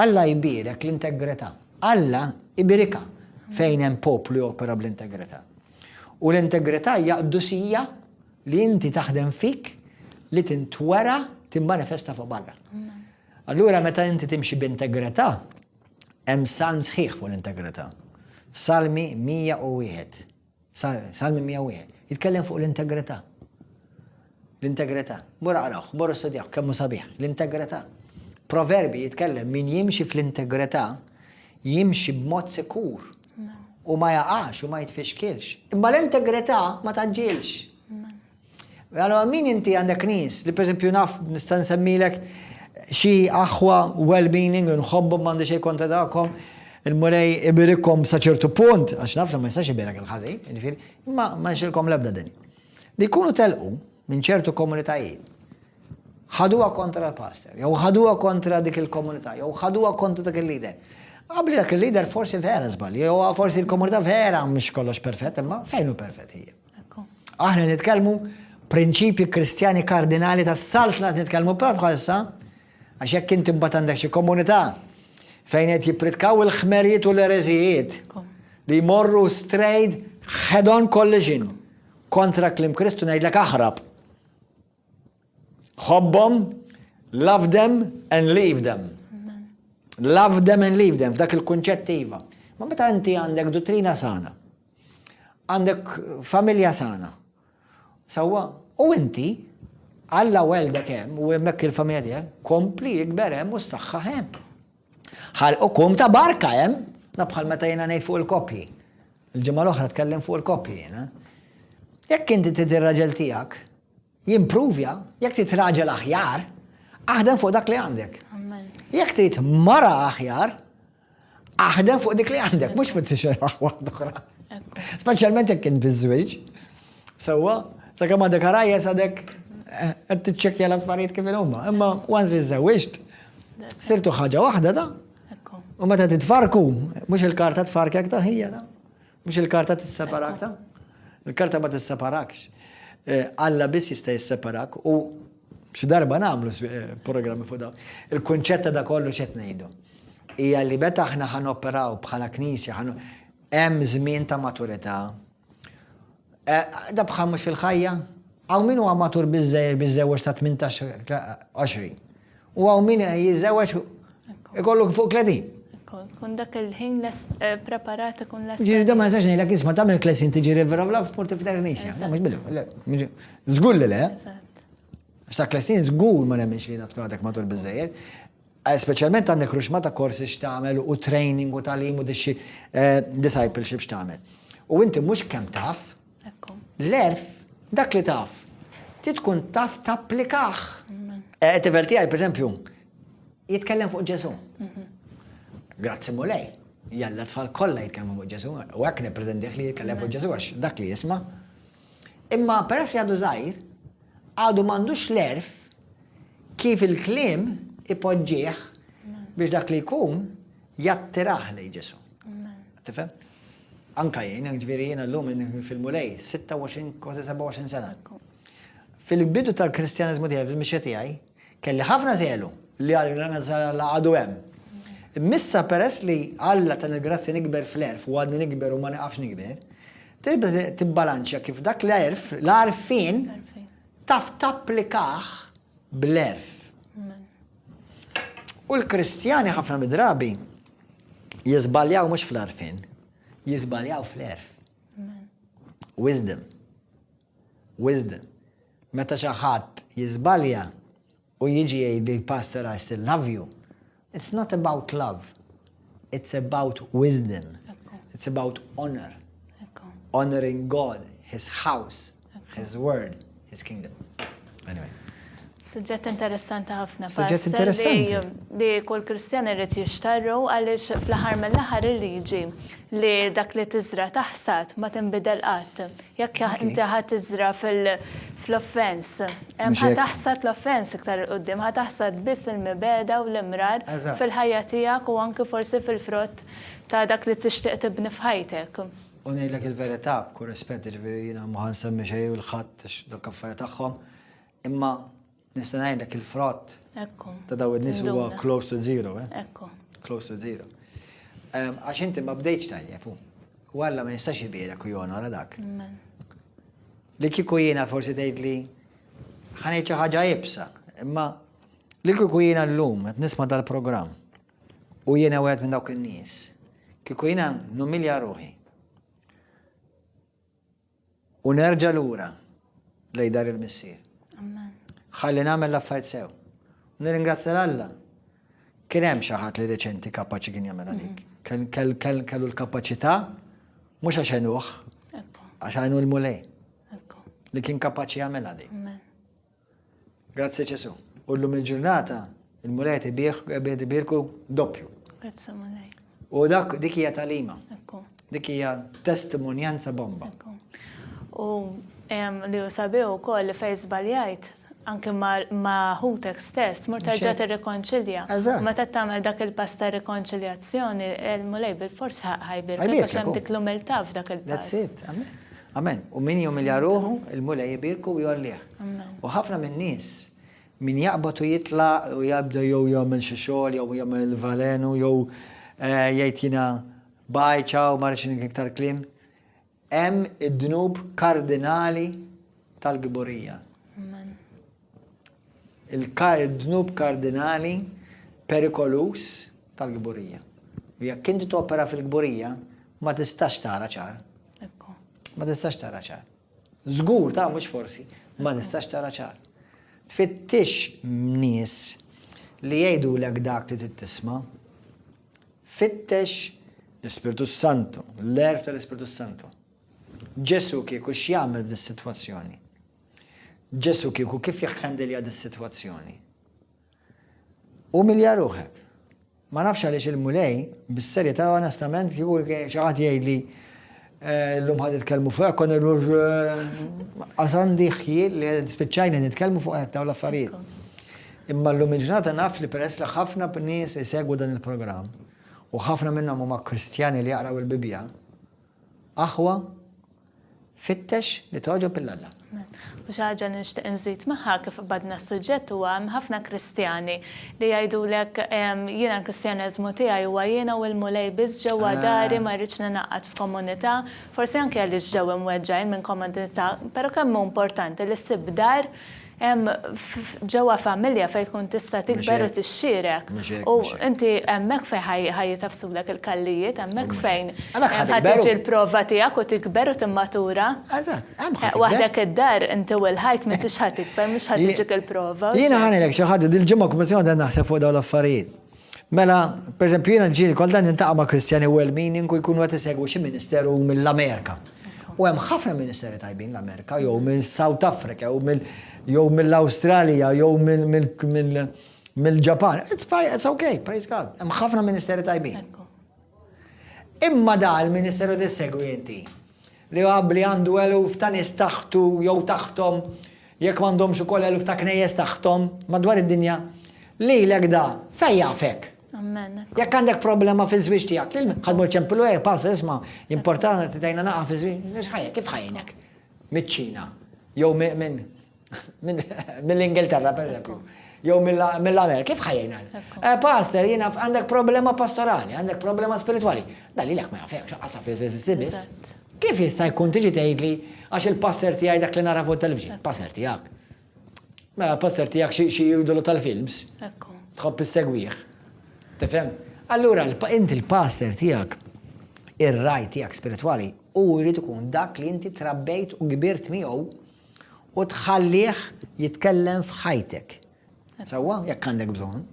Alla jbierek l-integrità. Alla ibirika fejn hemm poplu jopera bl-integrità. U l-integrità hija qdusija li inti taħdem fik li tintwera timmanifesta fuq barra. Allura meta inti timxi b'integrità, hemm salm sħiħ fuq l-integrità. Salmi 101. Salmi 101, jitkellem fuq l-integrità. L-integrità. Mur aqrawh, mur istudjawh, kemm hu sabiħ. L-integrità. Proverbji jitkellem min jimxi fl-integrità jimxi b'mod sikur u ma jaqax u ma jitfixkilx. Imma l-integrità ma taġġilx. Allora min inti għandek nies li pereżempju naf nista' nsemmilek xi aħwa well-meaning u nħobbhom m'għandi xejn kontra tagħkom il-Mulej ibirikom sa ċertu punt, għax naf li ma jistax ibirek il-ħażi, jiġifieri, imma ma nxilkom l-ebda din. Li jkunu telqu minn ċertu komunitajiet, ħaduha kontra l-pastor, jew ħaduha kontra dik il-komunità, jew ħaduha kontra dak il-lider. Qabli dak il-lider forsi vera żbalji, jew forsi l-komunità vera mhux kollox perfett, imma fejn hu perfett hija. Aħna nitkellmu prinċipji Kristjani kardinali tas-saltna qed nitkellmu propju bħalissa għax jekk inti mbagħad għandek xi komunità fejn qed jippritkaw il-ħmerijiet u l-ereżijiet li jmorru strejt head-on collision kontra klim Kristu ngħidlek aħrab. Ħobbhom, love them and leave them. Love them and leave them, f'dak il-kunċett iva. Ma meta inti għandek dottrina sana, għandek familja sana. Sawa, u inti, għalla welda kem, u jemmek il-familja tijak, kompli jikber hemm u s-saxħa hemm. Għal u kum ta' barka hemm, nabħal meta jena nej fuq il-kopji. Il-ġimma l-oħra tkellem fuq il-kopji jena. Jekk inti t-tirraġel tijak, Jimpruvja, jekk trid raġel aħjar, aħdem fuq dak li għandek. Jekk trid mara aħjar, aħdem fuq dik li għandek, mhux fuq tixer waħda oħra. Speċjalment jekk kien biżwieġ. Sewwa, sakemm għadek għarajja sadek eh, qed tiċċekkja l-affarijiet kif huma. Imma once li żewġt, sirtu ħaġa waħda da. U meta titfarku, mhux il-karta tfarkek ta' ħija da. Mhux il-karta tisseparak ta? Il-karta ma tisseparakx. Eh, Alla biss jista' jisseparak u xi darba nagħmlu eh, programmi fuq dawn. Il-kunċett ta' kollu x'qed ngħidu. Hija li meta aħna ħan operaw bħala knisja ħan hemm żmien ta' maturità. Eh, da bħal mhux fil-ħajja, hawn min huwa matur biżżejjed biżżewġ ta' 18 20. U għaw min jiżewġ ikollok fuq kledin. Kun dak il-ħin eh, preparat kun lest. Ġiri da ma jistax ngħidlek isma' tagħmel klesin tiġi river of love tmur tiftaħ nixja. Mhux bidu. Żgur li le. Sa klesin żgur ma nemminx li tkun għadek matul biżejjed. Eh, Speċjalment għandek ruxma ta' korsi x'tagħmel u training u talim u dixxi eh, discipleship x'tagħmel. U inti mhux kemm taf, L-għerf, dak li taf, trid tkun taf tapplikah. Tifel tiegħi, pereżempju, jitkellem fuq Ġesu. Grazzi mulej, jalla tfal kollha jitkellmu fuq Ġesu, u hekk nippretendieh li jitkellem fuq Ġesu għax dak li jisma'. Imma peress jgħadu żgħir, għadu m'għandux l-għerf kif il-kliem ipoġġih biex dak li jkun jattirah lejn Ġesu. Tifhem? Anke jien, jiġifieri jiena llum inħoss fil-Mulej, 26, kważi 27 sena. Fil-bidu tal-Kristjaneżmu tiegħi, fil-mixja tiegħi, kelli ħafna żelu li għal granazza l-Alla għadu hemm. Missa peress li Alla tan il-grazzja nikber fl-erf u għadni nikber u ma niqafx nikber, tibda tibbalanċja kif dak l-erf, l-arfin, taf tapplikah bl-erf. U l-Kristjani ħafna midrabi jiżbaljaw mhux fl-arfin, jiżbaljaw fl-erf. Wisdom. Wisdom. Meta xi ħadd jiżbalja u jiġi jgħid li pastor I still love you, it's not about love. It's about wisdom. It's about honor. Honoring God, his house. His word, his kingdom. Anyway. Suġġett interessanti ħafna. Suġġett interessanti. Li kull Kristjan irid jixtarru għaliex fl-aħħar mill-aħħar il-liġi li dak li tiżra taħsad ma tinbidel qatt. Jekk inti ħadd tiżra fl-offens, ħa taħsad l-offens iktar il-qudiem, ħa taħsad biss il-mibeda u l-imrar fil-ħajja tiegħek u anki forsi fil-frott ta' dak li tixtieq tibni f'ħajtek. U ngħidlek il-verità b'kull rispett, jiġifieri jiena ma ħansemmi xejn lil ħadd għax dawk affarijiet tagħhom, imma nista' ngħidlek il-frott ta' daw in-nies huwa close to zero, eh? Ekku. Close to zero. Għax inti ma bdejtx tajjeb, u Alla ma jistax jibierek u jonora dak. Li kieku jiena forsi tgħidli ħanejt xi ħaġa ibsa, imma li kieku jiena llum qed nisma' dal-programm U jiena wieħed minn dawk in-nies. Kieku jiena numilja ruħi. U nerġa' lura lej dar il-missier. Ħalli nagħmel l-affarijiet sew. Nirringrazzja l-Alla. Kien hemm xi ħadd li reċenti kapaċi kien jagħmel għalik. Mhm. Kellu l-kapaċità mhux għax għenuh, għax għenu l-mulej. Li kien kapaċi jagħmel għalik. Grazzi Ġesu. U llum il-ġurnata il-Mulej qed ibih qed ibirku doppju. Grazzi Mulej. U dak dik hija talima. Ekku. Dik hija testimonjanza bomba. Ekku. U li hu sabiħ ukoll li fejn żbaljajt anke ma' ħutek stess tmur terġa' tirrikonċilja. Eżatt. Meta tagħmel dak il-pass ta' rikonċiljazzjoni, il-Mulej bil-forsa ħajbirek. Ħajbirek. Għax hemm dik l-umiltà f'dak il-pass. That's it. Amen. Amen. U min jumilja ruħu, il-Mulej jibirku u jolliħ. U ħafna minn nies min jaqbad u jitla u jabda jew jagħmel xi xogħol jew jagħmel valenu jew eh, jgħid jiena bajċa u marx iktar klim. Hemm id-dnub kardinali tal-giborija. Il-dnub kardinali perikoluż tal-kburija. U jekk inti topera fil-kburija, ma tistax tara ċar. Ma tistax tara ċar. Zgur ta' mhux forsi, ma tistax tara ċar. Tfittix nies li jgħidulek dak li tittisma. Fittex l-Ispirtu Santu, l-erf tal-Ispirtu Santu. Ġesu kieku x'jagħmel f'dis-sitwazzjoni? Ġesù kieku kif jikhandilja dis-sitwazzjoni? Umilja ruħek. Ma nafx għaliex il-Mulej, bis-serjetà onestament kieku xi ħadd jgħidli eh, l-lum ħad nitkellmu fuq kon għasandi ħjiel li spiċċajna nitkellmu fuq hekk dawn l-affarijiet. Imma l-lum il-ġurnata naf li peress li ħafna nies isegwu dan il-programm u ħafna minnhom huma Kristjani li jaqraw il-Bibbja, Aħwa, fittex li togħġob lil Alla. U xi ħaġa li nixtieq inżid magħha kif qbadna s-suġġett huwa hemm ħafna Kristjani li jgħidulek jiena l-Kristjaneżmu tiegħi huwa jiena u l-Mulej biss ġewwa dari ma rridx ningħaqad f'komunità, forsi anke għaliex ġew imweġġgħin minn komunità, però kemm hu importanti li ssib dar Hemm ġewwa familja fejn tkun tista' tikber u tixxierek. U inti hemmhekk fejn ħa jitafsulek il-kallijiet, hemmhekk fejn ħa tiġi l-prova tiegħek u tikber u timmatura. Eżatt, hemm ħa tikber. Waħdek id-dar inti u l-ħajt m'intix ħa tikber, mhux ħa tiġik il-prova. Jiena ħa ngħidlek xi ħaġa, dil-ġimgħa kullimkien qegħdin naħseb fuq dawn l-affarijiet. Mela, pereżempju jiena ġieli kultant nintaqa' ma' Kristjani well-meaning u jkunu qed isegwu xi ministeru mill-Amerika. U hemm ħafna ministeri tajbin l-Amerika jew minn South Africa jew mill jew mill-Awstralja jew mill-Ġapan. It's fine, it's okay, praise God. Hemm ħafna ministeri tajbin. Imma da l-ministeru li segwi inti, li hu abbli għandu eluf ta' nies taħtu jew taħthom, jekk m'għandhomx ukoll eluf ta' knejjes taħthom, madwar id-dinja, lilek da, fejn jafek? Amen. Jekk għandek problema fiż-żwieġ tiegħek, lil ħadmu l-ċempilu eh, pass isma' importanti tajna naqa' fiż-żwieġ, kif ħajnek? Miċ-Ċina, jew minn Mill-Ingilterra, per eżempju. Jew mill-Amerika, kif ħajjina? Eh, pastor, jina għandek problema pastorali, għandek problema spirituali. Dalli l-ek ma jafek, xaqasa fi zizisti bis. Kif jista' jkun tiġi tgħidli għax il-passer tiegħi dak li nara fuq television, passer tiegħek. Mela passer tiegħek xi jidulu tal-films. Tħobb is-segwieħ. Tifhem? Allura inti l-passer tiegħek ir-raj tiegħek spiritwali u jrid ikun dak li inti trabbejt u kbirt miegħu U tħallih jitkellem f'ħajtek. Sewwa, jekk għandek bżonn.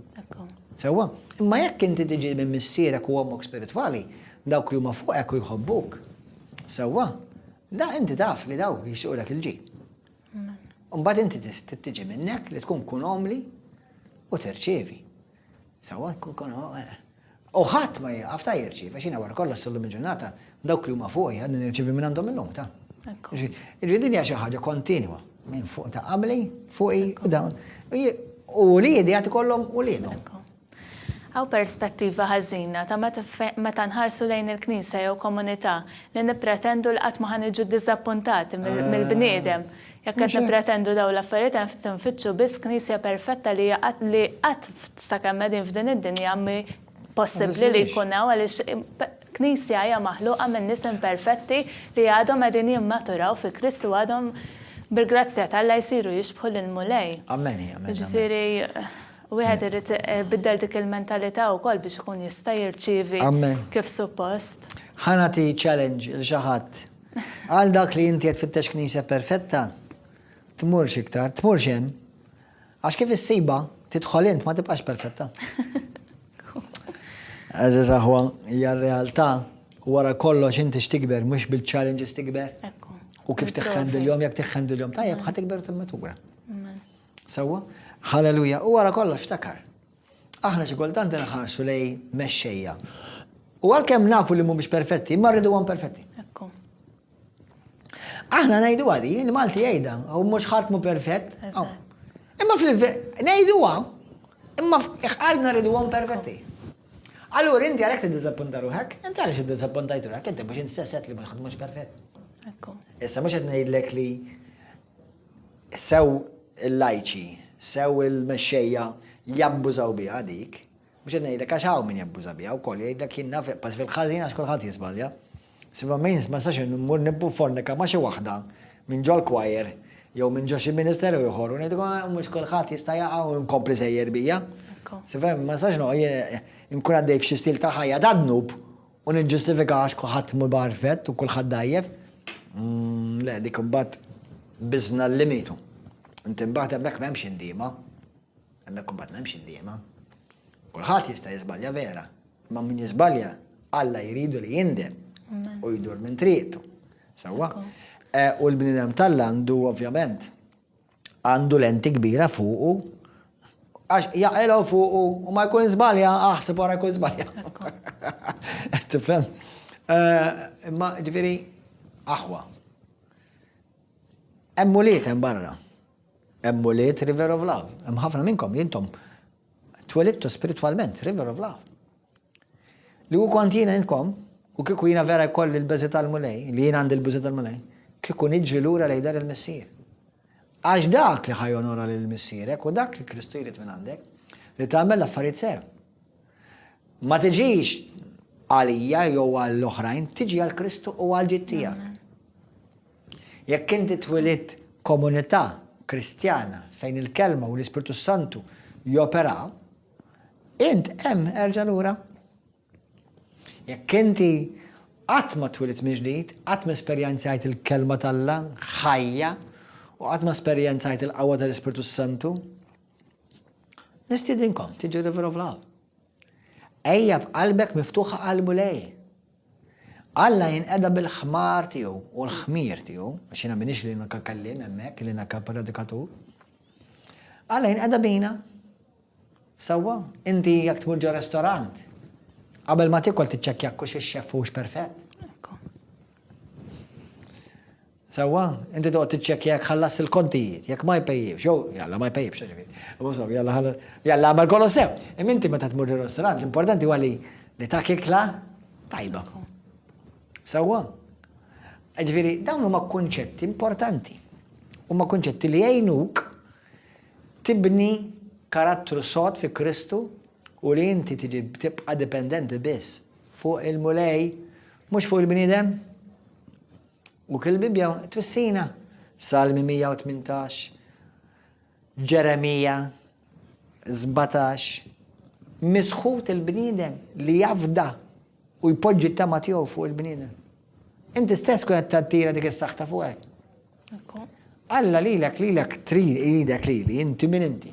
Sewwa, imma jekk inti tiġi minn missierek u ommok spiritwali, dawk li huma fuqek u jħobbuk. Sewwa, da inti taf li daw jixuqlek il-ġi. Mbagħad inti tiġi minnek li tkun kun omli u terċevi. Sewwa, kun eh, U ħadd ma jieqaf ta' jirċievi, x'jiena wara kollox sallum il-ġurnata dawk li huma fuqi għadni nirċievi minn għandhom illum ta'. Ġifieri din hija xi ħaġa kontinwa minn fuq ta' qabli, fuqi u dawn. U li jidi għati kollom u li jidhom. Għaw perspettiva ħażina ta' meta nħarsu lejn il-Knisja jew komunità li nippretendu li qatt ma ħa niġu diżappuntati mill-bniedem. Jekk qed nippretendu dawn l-affarijiet hemm ftit infittxu biss Knisja perfetta li hija qatt li qatt sakemm qegħdin f'din id-dinja mhi possibbli li jkun hawn għaliex Knisja hija maħluqa minn nies imperfetti li għadhom qegħdin jimmaturaw fi Kristu għadhom bil-grazzja t'Alla jsiru jixbħu lill-Mulej. Amen, amen. Jiġifieri wieħed irid biddel dik il-mentalità wkoll biex ikun jista' jirċievi kif suppost. Ħa nagħti challenge lil xi ħadd. Għal dak li inti qed tfittex Knisja perfetta, tmurx iktar, tmurx hemm, għax kif issibha, tidħol int ma tibqax perfetta. Għażiż aħwa, hija r-realtà wara kollox inti x'tikber mhux bil-challenges tikber. U kif tiħħendilhom jekk tiħħendilhom tajjeb ħa tikber timmetura. Sewwa? Halleluja. U wara kollox ftakar. Aħna xi kultant inħarsu lej mexxejja. U għalkemm nafu li mhumiex perfetti, ma rridu għan perfetti. Aħna ngħidu għadi, il-Malti jgħidha, u mhux ħadd mu perfett. Imma fil ngħidu għam, imma qalbna rridu għam perfetti. Allura inti għalhekk tiddisappunta ruħek, inti għaliex iddisappuntajt ruħek, inti mhux inti sesset li mhux ħadd mhux perfett. Issa mhux qed ngħidlek li Sew il-lajċi, sew il-mexxejja jabbużaw biha dik. Mhux qed ngħidlek għax hawn min jabbuża biha wkoll, jgħidlek jien naf iqbas fil-ħażin għax kulħadd jiżbalja. Sibha ma nistax immur nippufornika ma' xi waħda minn ġol-choir jew minn ġo xi ministeru ieħor u ngħidilkom ah, mhux kulħadd jista' jaqa' u nkompli sejjer bija. Sibha ma nistax noqgħod inkun għaddej f'xi stil ta' ħajja ta' dnub U niġġustifika għax kulħadd imur b'għarfett u kulħadd dgħajjef? Le, dik imbagħad biżna l-limitu. Inti imbagħad hemmhekk m'hemmx indiema. Hemmhekk imbagħad m'hemmx indiema. Kulħadd jista' jiżbalja vera, imma min jiżbalja Alla jridu li jindem u jdur minn triqtu. Sewwa? Eh, u l-bniedem tal-landu ovvjament għandu lenti kbira fuqu għax jaqilgħu fuqu u ma jkun żbalja aħseb wara jkun żbalja. Tifhem? Eh, imma ġifieri aħwa. Hemm muliet hemm barra. Hemm muliet River of Love. Hemm ħafna minnkom jintom twelittu spiritwalment River of Love. Li hu kont jiena intkom, u kieku jiena vera jkolli l-beża' tal-Mulej, li jiena għandi l-beża' tal-Mulej, kieku niġri lura lejn dar il-Missier. Għax dak li ħa jonora lil missierek hu dak li Kristu jrid minn għandek, li tagħmel l-affarijiet sew. Ma tiġix għalija jew għall-oħrajn, tiġi għal Kristu u għal ġid tiegħek. Jekk inti twilid komunità Kristjana fejn il-kelma u l-Ispirtu Santu joperaw, Int hemm erġa' lura. Jekk inti qatt ma twilit mill-ġdid, qatt ma esperjenzajt il-Kelma t'Alla ħajja u qatt ma esperjenzajt il-qawwa tal-Ispirtu s-Santu, nistiedinkom tiġu River of Love. Ejja b'qalbek miftuħa għal Mulej. Alla jinqeda bil-ħmar tiegħu u l-ħmir tiegħu, għax jiena minix li naka kellim hemmhekk li naka predikatur. Alla jinqeda bina Sewwa, inti jekk tmur ġo restorant, qabel ma tiekol tiċċekkja jekk hux ix-xeff huwiex perfett? Ekku. Sewwa, inti toqgħod tiċċekkja jekk ħallas il-kontijiet, jekk ma jpejjibx, jew jalla ma jpejjibx ġifieri. U sew, jalla ħallas, jalla għamel kollox sew. Imma inti meta tmur ġo restorant, l-importanti huwa li li tak ikla tajba. Sewwa. Ġifieri, dawn huma kunċetti importanti. Huma kunċetti li jgħinuk tibni karattru sod fi Kristu u li inti tibqa' dipendenti biss fuq il-Mulej mhux fuq il-bniedem? U kif il-Bibbja twissina? Salmi 118, Ġeremija 17, Misħut il-bniedem li jafda U jpoġġi t-tama tiegħu fuq il-bniedem. Inti stess tkun qed tattira dik is-saħta fuqek. Alla lilek lilek trid jridek lili, inti min inti.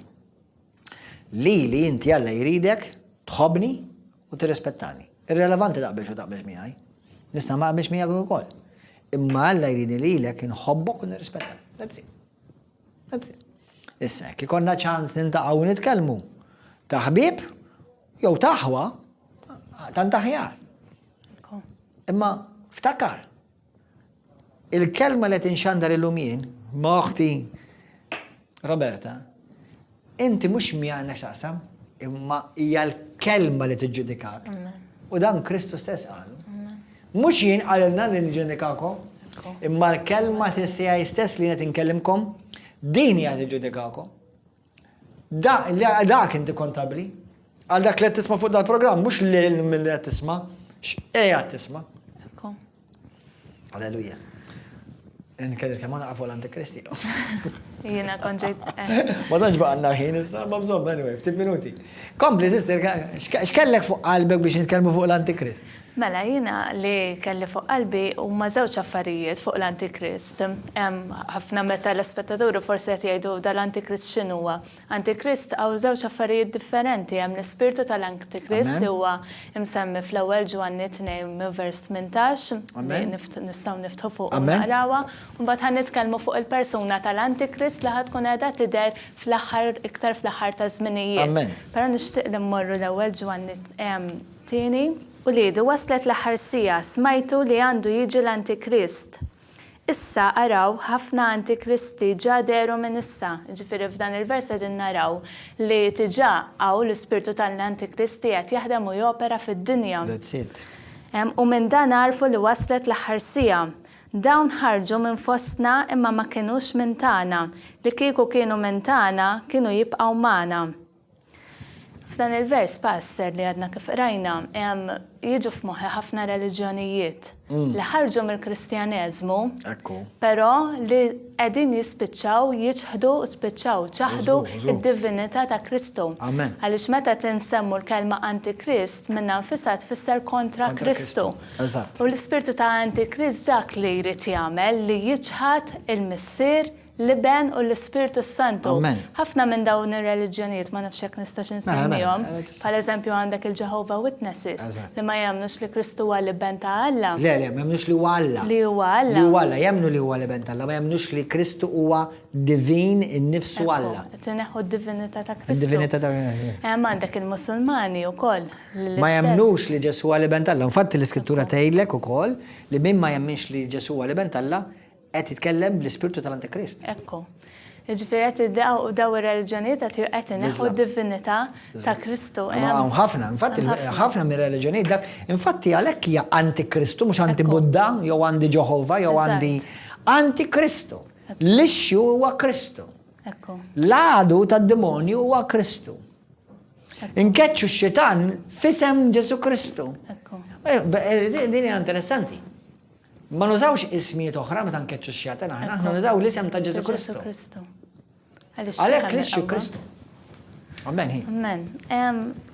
Lili inti Alla jridek tħobni u tirrispettani. Irrelevanti taqbilx u taqbilx miegħi. Nista' ma qbilx miegħek ukoll. Imma Alla jridni lilek inħobbok u nirrispettani. That's it. Grazzi. Issa jekk ikollna ċans nintaqgħu u nitkellmu ta' ħbieb jew ta' aħwa tant aħjar. Imma ftakar il-kelma li tinxandar illum jien ma' oħti Roberta Inti mhux miegħi għandna x'taqsam, imma hija l-kelma li tiġġudikak. U dan Kristu stess qalu. Mhux jien qalilna li niġġudikakom, imma l-kelma tiegħi stess li qed inkellimkom, din hija tiġġudikakom. Dak inti kontabbli, għal dak li qed tisma' fuq dal-programm, mhux lil min qed tisma', x'qiegħed tisma'. Alleluja. Nkelli kemm għana għafu l-antikristi. Jena konġejt. Eh. Ma tanġ baqanna ħin, ma bżom, anyway, ftit minuti. Kompli, sister, xkellek fuq qalbek biex nitkellmu fuq l-antikrist? Mela, jena li kelli fuq qalbi u ma zewċ affarijiet fuq l-antikrist. Ħafna meta l-aspettatori forse qed jgħidu dal-antikrist x'inhuwa. Antikrist, hawn żewġ affarijiet differenti, hemm l-ispirtu tal-Antikrist li huwa msemmi fl-Ewwel Ġwanni tnejn minn vers tmintax, li nistgħu niftħu fuqu u naqrawha, u mbagħad ħa nitkellmu fuq il-persuna tal-Antikrist li ħa tkun qiegħda tidher fl-aħħar iktar fl-aħħar taż-żminijiet. Però nixtieq li mmorru l-Ewwel Ġwanni tieni. Uliedi, waslet l-aħħar siegħa, smajtu li għandu jiġi l-Antikrist. Issa, araw, ħafna antikristi ġa dehru minn issa. Jiġifieri f'dan il-vers qegħdin naraw li diġà hawn l-ispirtu tal-antikristi qed jaħdem u jopera fid-dinja. That's it. U minn dan għarfu li waslet l-aħħar siegħa. Dawn ħarġu minn fostna imma ma kinux minn tagħna. Li kieku kienu minn tagħna, kienu jibqgħu magħna. F'dan il-vers, Pastor, li għadna kif qrajna, jiġu f'moħħi ħafna reliġjonijiet mm. li ħarġu mill-Kristjaneżmu, però li qegħdin jispiċċaw jiċħdu u spiċċaw ċaħdu id-divinità ta' Kristu. Għaliex meta tinsemmu l-kelma Antikrist minna nfisha tfisser kontra Kristu. U l-ispirtu ta' Antikrist dak li jrid jagħmel li jiċħad il-missier l-Iben u l-Ispirtu s-Santu. Amen. Ħafna minn dawn ir-reliġjonijiet ma nafx jekk nistax Mela, mela, insemmihom, mela, tista' bħal eżempju għandek il-Jehovah Witnesses Eżatt. li ma jemmnux li Kristu huwa l-Iben ta' Alla, Le, le, ma jemmnux li huwa Alla. li huwa Li Alla. huwa Alla, jemmnu li huwa l-Iben t'Alla, ma jemmnux li Kristu huwa divin innifsu Ekku, Alla. Qed ineħħu d-divinità ta' Kristu. Id-divinità ta' Hemm għandek il-Musulmani wkoll li l-istess. Ma jemmnux li Ġesù huwa l-Iben t'Alla. Infatti l-Iskrittura tgħidlek ukoll li min ma jemminx li Ġesù huwa l-Iben t'Alla, Qed jitkellem bl-ispirtu tal-Antikrist. Ekku. Ġifieri qed iddeqgħu u daw ir-reliġjonijiet qed qed ineħħu d-divinità ta' Kristu. Hawn ħafna, infatti ħafna mir-reliġjonijiet dak, infatti għalhekk hija antikristu mhux anti Buddha jew għandi Ġeħova jew għandi antikristu. L-issue huwa Kristu. L-għadu tad-demonju huwa Kristu. Inkeċċu x-xitan fisem Ġesu Kristu. Eh, eh, din hija interessanti. Ma nużawx ismijiet oħra meta nkeċċu x-xjaten aħna, aħna nużaw l-isem ta' Ġesu Kristu. Għalhekk Kristu Kristu. Amen hi. Amen.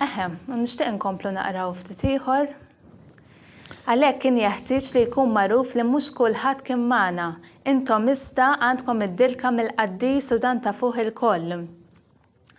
Eħem, nixtieq nkomplu naqraw ftit ieħor. Għalhekk kien jeħtieġ li jkun magħruf li mhux kulħadd kien magħna. Intom iżda għandkom id-dilka mill-qaddis u dan ta' fuq il-koll.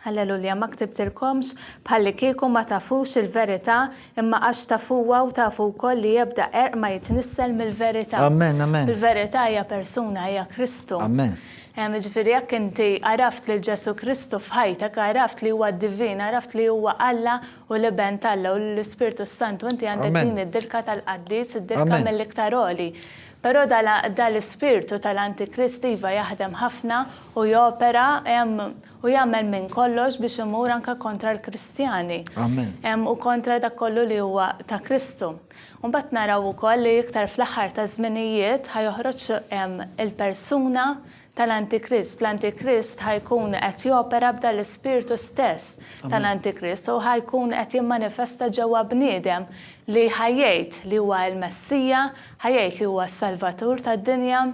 Alleluja, ma ktibtilkomx bħallikieku ma tafux il-verità, imma għax tafuha u tafu wkoll li ebda qerq ma jitnissel mill-verità. Amen, amen. Il-verità hija persuna, hija Kristu. Amen. Jiġifieri jekk inti għaraft lil Ġesù Kristu f'ħajtek, għaraft li huwa divin, għaraft li huwa Alla u l-Iben t'Alla u l-Ispirtu s-Santu, inti għandek din id-dilka tal-qaddis, id-dilka mill-iktar għoli. Però da l-ispirtu ta' l-antikristu iva jaħdem ħafna u jopera hemm u jagħmel minn kollox biex imur anke kontra l-Kristjani. Amen. Hemm u kontra dak kollu li huwa ta' Kristu. U mbagħad naraw ukoll li iktar fl-aħħar taż-żminijiet ħa joħroġ il-persuna tal-Antikrist. L-Antikrist ħa jkun qed jopera b'dan l-ispirtu stess tal-Antikrist u ħa jkun qed jimmanifesta ġewwa bniedem li ħa jgħid li huwa l-Messija, ħa jgħid li huwa s-Salvatur tad-dinja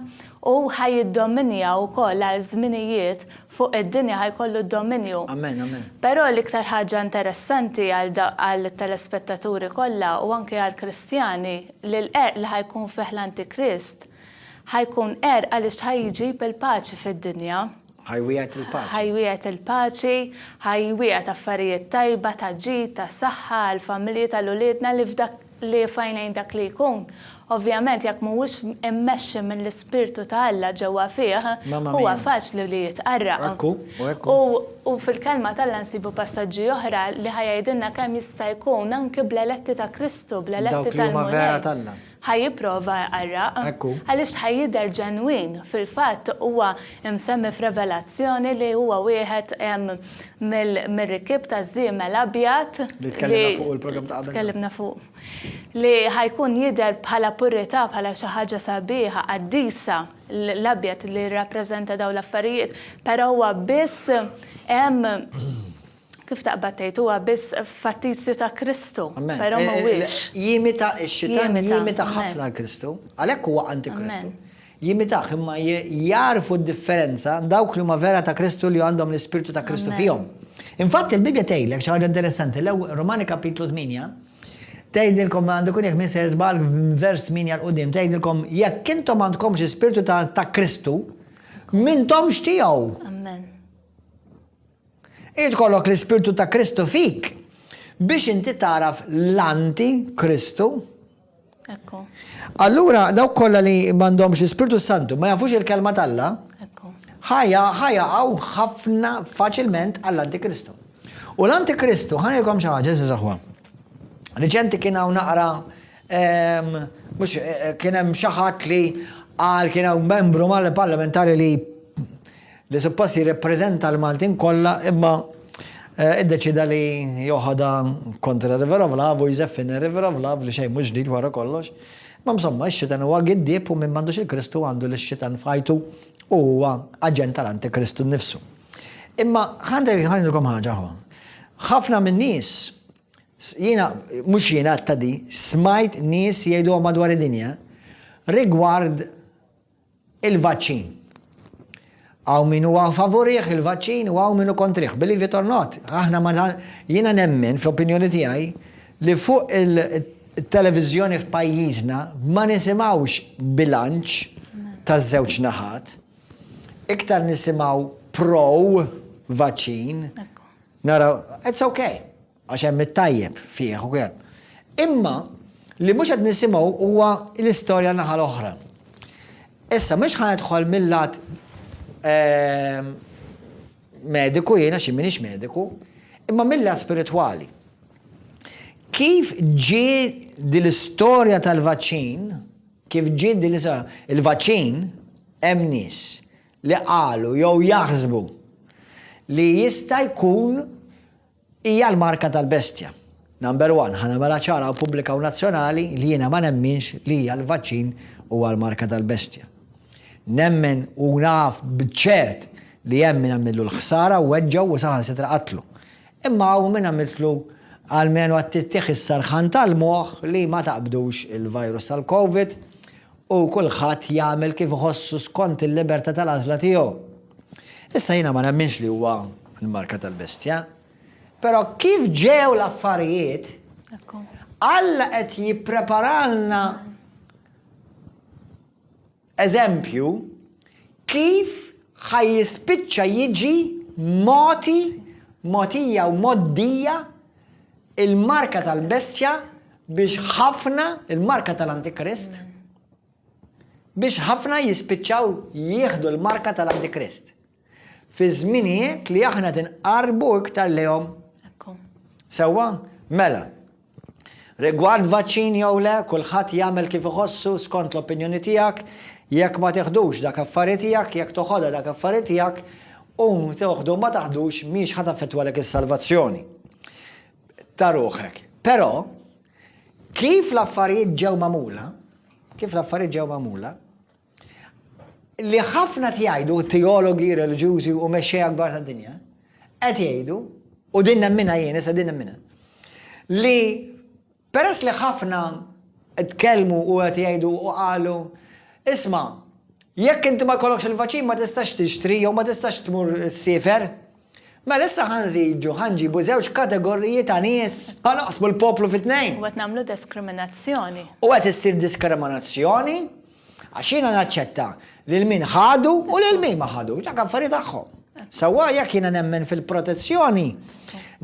u ħa jiddominja wkoll għal żminijiet fuq id-dinja, ħa jkollu d-dominju. Però l-iktar ħaġa interessanti għall-telespettaturi kollha u anki għall-Kristjani li l-qerq li ħa jkun fih l-Antikrist, Ħa jkun għerq għaliex ħa jġib il-paċi fid-dinja. Ħa jwiegħed il-paċi. Ħa jwiegħed il-paċi, ħa jwiegħed affarijiet tajba ta' ġid, ta' saħħa għall-familji tal-uliedna li f'dak li f'għajnejn dak li jkun. Ovvjament jekk mhuwiex immexxi mill-Ispirtu ta' Alla ġewwa fih, huwa faċli li jitqarraq. Hekk hu, u hekk hu. U fil-Kelma t'Alla nsibu passaġġi oħra li ħa jgħidilna kemm jista' jkun anki bl-eletti ta' Kristu, bl-eletti tal-Mulej. Dawk li huma vera t'Alla. Ħa jipprova jqarraq. Ekku. Għaliex ħa jidher ġenwin. Fil-fatt, huwa msemmi f'Revelazzjoni li huwa wieħed mir-rikkieb taż-żiemel abjad li. Li tkellimna fuqu l-programm ta' qabel. Tkellimna fuqu. Li ħa jkun jidher bħala purità, bħala xi ħaġa sabiħa, qaddisa, l-abjad li jirrappreżenta dawn l-affarijiet, però huwa biss hemm Kif taqbad tgħid, huwa biss fattizju ta' Kristu, però m'huwiex. Jimita, ix-Xitan jimita ħafna l-Kristu, għalhekk huwa anti-Kristu. Jimitah, imma jagħrfu d-differenza dawk li huma vera ta' Kristu li għandhom l-Ispirtu ta' Kristu fihom. Infatti l-Bibbja tgħidlek xi ħaġa interessanti, l-ewwel Rumani Kapitlu 8 tgħidilkom għandu jkun jekk minn żball vers 8 l quddiem tgħidilkom jekk intom m'għandkomx ispirtu ta' Kristu, m'intomx tiegħu. Amen. Irid ikollok l-Ispirtu ta' Kristu fik biex inti tagħraf l-anti Kristu. Ekku. Allura dawk kollha li m'għandhomx l-Ispirtu Santu ma jafux il-kelma t'Alla, ħajja ħajaqgħu ħafna faċilment għall-Antikristu. U l-Antikristu, ħanilkom xi ħaġa, eżiż aħwa. Riċenti kien hawn naqra ehm, mhux eh, eh, kien hemm xi ħadd li qal kien hawn membru mal-parlamentari li li suppost jirrappreżenta l-Maltin kollha imma iddeċieda li joħodha kontra River of Love u jżeffina River of Love li xejn mhux ġdid wara kollox. Ma msomma, ix-xitan huwa giddieb u min m'għandux il-Kristu għandu lix-xitan f'ħajtu u huwa aġent tal-Antikristu nnifsu. Imma ħandek ħandilkom ħaġa ħwa. Ħafna min-nies jiena mhux jiena ta' di smajt nies jgħiduha madwar id-dinja rigward Il-vaċċin. Hawn min huwa favorih il-vaċċin u hawn min hu kontrih. Believe it or not, aħna ma jiena nemmen fl-opinjoni tiegħi li fuq il-televiżjoni f'pajjiżna ma nisimgħux bilanċ taż-żewġ naħat. Iktar nisimgħu pro vaċċin. Naraw, it's okay. Għax hemm it-tajjeb fih ukoll. Imma li mhux qed nisimgħu huwa l-istorja n-naħa l-oħra. Issa mhux ħa nidħol mil-lat mediku jiena xi m'iniex mediku, imma mill-lat spiritwali. Kif ġi dil-istorja tal-vaċċin, kif ġi dil-istorja, il-vaċċin hemm nies li qalu jew jaħsbu li jista' jkun Hija l-marka tal-bestja. Number one, ħa nagħmilha ċara u pubblika u nazzjonali li jiena ma nemminx li hija l-vaċċin huwa l-marka tal-bestja. Nemmen u naf b'ċert li hemm min għamillu l-ħsara, weġġgħu u saħansitra qatlu. Imma hawn min għamiltlu almenu għat-tittieħ is-serħan tal-moħħ li ma taqbdux il-virus tal-Covid u kulħadd jagħmel kif iħossu skont il-libertà tal-għażla tiegħu. Issa jiena ma nemminx li huwa l-marka tal-bestja, però kif ġew l-affarijiet, Alla qed jippreparalna eżempju kif ħaj jispiċċa jiġi moti, motija u moddija il-marka tal-bestja biex ħafna, il-marka tal-Antikrist, Biex ħafna jispiċċaw jieħdu l-marka tal-Antikrist. Fiż-żminijiet li aħna qed inqarrbu iktar lejhom. Sewwa? Mela, Rigward vaċċin jew le, kulħadd jagħmel kif iħossu skont l-opinjoni tiegħek, jekk ma teħdux dak affari tiegħek, jekk toħodha dak affari tiegħek, u toħdu ma taħdux miex ħad affettwalek is-salvazzjoni. Ta' ruħek. Però, Kif l-affarijiet ġew magħmula, kif l-affarijiet ġew magħmula, li ħafna tjajdu teologi, reliġjużi u mexxej akbar ta' dinja, qed jgħidu, u din nemmina jien, issa din nemmina, li peress li ħafna tkellmu u qed jgħidu u qalu, isma' jekk inti ma jkollokx il-vaċin ma tistax tixtri jew ma tistax tmur sifer, Mela issa ħa nżidu, ħa nġibu żewġ kategoriji ta' nies, ħa naqsmu l-poplu fi tnejn. U qed nagħmlu deskriminazzjoni. U qed issir diskriminazzjoni għax jiena naċċetta lil min ħadu u lil min ma ħadux, dak affari tagħhom. Sewwa jekk jiena nemmen fil-protezzjoni,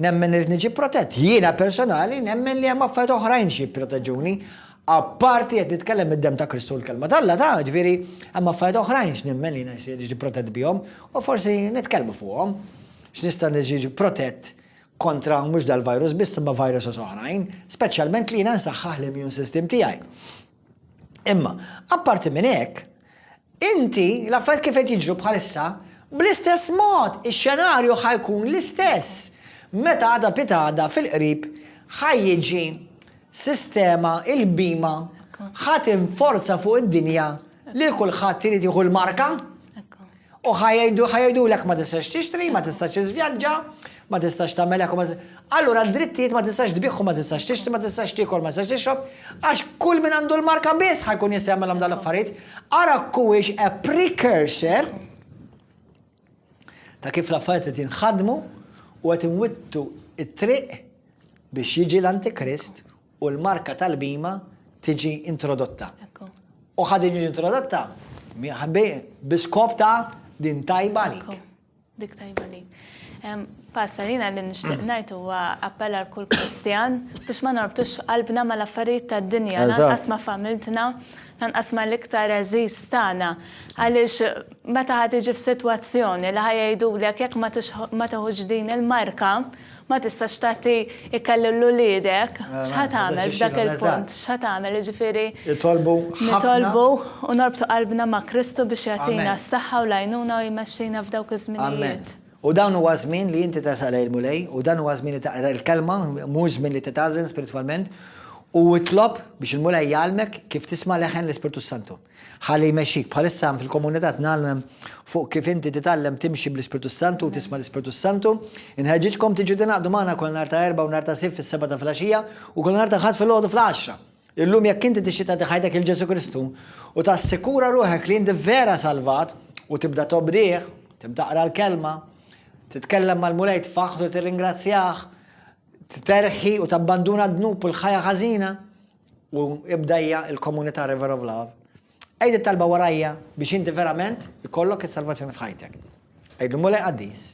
nemmen irid niġi protett. Jiena personali nemmen li hemm affarijiet oħrajn xi jipproteġuni. Apparti qed nitkellem mid-demm ta' Kristu u l-Kelma t'Alla ta', ġifieri, hemm affarijiet oħrajn x'nemmen li jiena jiġi protett bihom u forsi nitkellmu fuqhom. X'nista' niġi protett kontra mhux dal-virus biss imma viruses oħrajn, speċjalment li jiena nsaħħaħ l-immune system tiegħi. Imma, apparti minn hekk, Inti, l-affarijiet kif qed jiġru bħalissa, bl-istess mod, ix-xenarju ħa jkun l-istess meta għada pitgħada fil-qrib ħa jiġi sistema, il-bhima ħa tinforza fuq id-dinja lil kulħadd irid jieħu l-marka. U ħa jgħidu, ħa jgħidulek ma tistax tixtri, ma tistax iżvjaġġa, ma tistax tagħmel hekk u ma Allura d-drittijiet ma tistax tbigħ u ma tistax tixtri, ma tistax tiekol, ma tistax tixrob, għax kull min għandu l-marka biss ħa jkun jista' jagħmilhom dan l-affarijiet. Ara kuwiex a precursor ta' kif l-affarijiet qed jinħadmu u qed inwittu it-triq biex jiġi l-Antikrist u l-marka tal-bhima tiġi introdotta. U ħad tiġi introdotta biskop ta' din tajba għalik. Dik tajba għalik. Pasta li li nixtieq ngħid huwa appell għal kull Kristjan biex ma norbtux qalbna mal-affarijiet tad-dinja, lanqas ma' familtna, lanqas ma' l-iktar eżiż tagħna. Għaliex meta ħad tiġi f'sitwazzjoni li ħajgħidulek jekk ma teħux din il-marka, Ma tistax tagħti ikel lil uliedek. X'ħa tagħmel f'dak il-punt? X'ħa tagħmel, jiġifieri. Nitolbu ħafna. Nitolbu u norbtu qalbna ma' Kristu biex jagħtina s-saħħa u l-għajnuna u jmexxina f'dawk iż-żminijiet. Amen. U dan huwa żmien li inti tersaq lejn il-Mulej, u dan huwa żmien li taqra l-Kelma, mhux żmien li titgħażżen spiritwalment, u itlob biex il-Mulej jgħallmek kif tisma' leħen l-Ispirtu s-Santu. Ħalli jmexxik. Bħalissa hemm fil-komunità tnallmem fuq kif inti titgħallem timxi bl-Ispirtu s-Santu u tisma' l-Ispirtu s-Santu. Inħeġġiġkom tiġu tingħaqdu magħna kull nhar ta' Erbgħa u nhar ta' Sibt fis-sebgħa ta' filgħaxija u kull nhar ta' Ħadd filgħodu fl-għaxra. Illum jekk inti tixtieq tagħti ħajtek lil Ġesù Kristu u tassikura ruħek li inti vera salvat u tibda tobdih, tibda taqra l-Kelma, titkellem mal-Mulej, tfaħħru tirringrazzjah, tterħi u tabbanduna d-dnub u l-ħajja ħażina. U ibdajja il-komunità River of Love. Għid it-talba warajja biex inti verament ikollok is-salvazzjoni f'ħajtek. Għidlu Mulej Qaddis,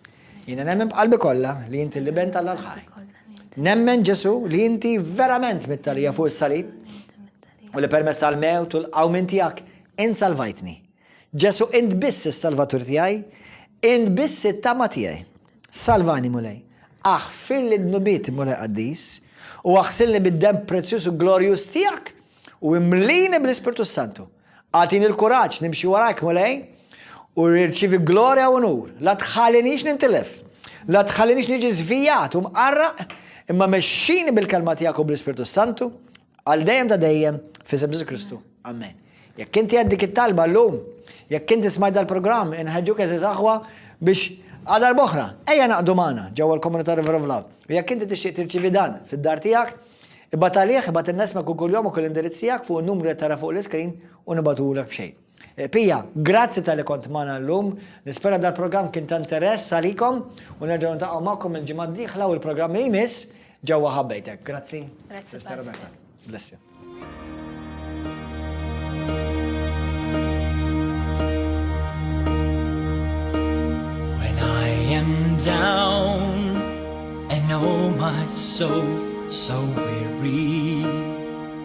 jiena nemmen b'qalbi kollha li inti l-Iben tal ħaj Nemmen Ġesu li inti verament mittalija fuq is-salib u li permess tal-mewt u l-qawmin tiegħek insalvajtni. Ġesu' int biss is-Salvatur tiegħi, int biss it-tama tiegħi. Salvani, Mulej. Aħfirli dnubieti, Mulej qaddis, u aħsilni bid-demm prezzjuż u glorjuż tiegħek, u imlini bl-Ispirtu s-Santu. Agħtini l-kuraġġ nimxi warajk, Mulej, u nirċievi glorja u unur. La tħallinix nintilef. La tħallinix niġi żvijat u mqarraq, imma mexxini bil-kelma tiegħek u bl-Ispirtu s-Santu, Għal dejjem ta' dejjem fisem Ġesu Kristu. Amen. Jekk inti għed dik it-talba llum, jekk inti smajt dal-programm inħeġġuk eżiż aħwa biex għadar boħra, ejja naqdu magħna ġewwa l-komunità River of Love. U jekk inti tixtieq tirċivi dan fid-dar tiegħek, ibgħat għalih, ibgħat il-nesmek u kull jom u kull indirizzijak fuq numru li tara fuq l-iskrin u nibatulek b'xejn. Pia, grazzi talli kont magħna llum. Nispera dal-programm kien ta' interess għalikom u nerġgħu niltaqgħu magħkom il-ġimgħa d-dieħla u l-programm li jmiss ġewwa ħabbejtek. Grazzi. Grazzi. Bless you. down and oh my soul so weary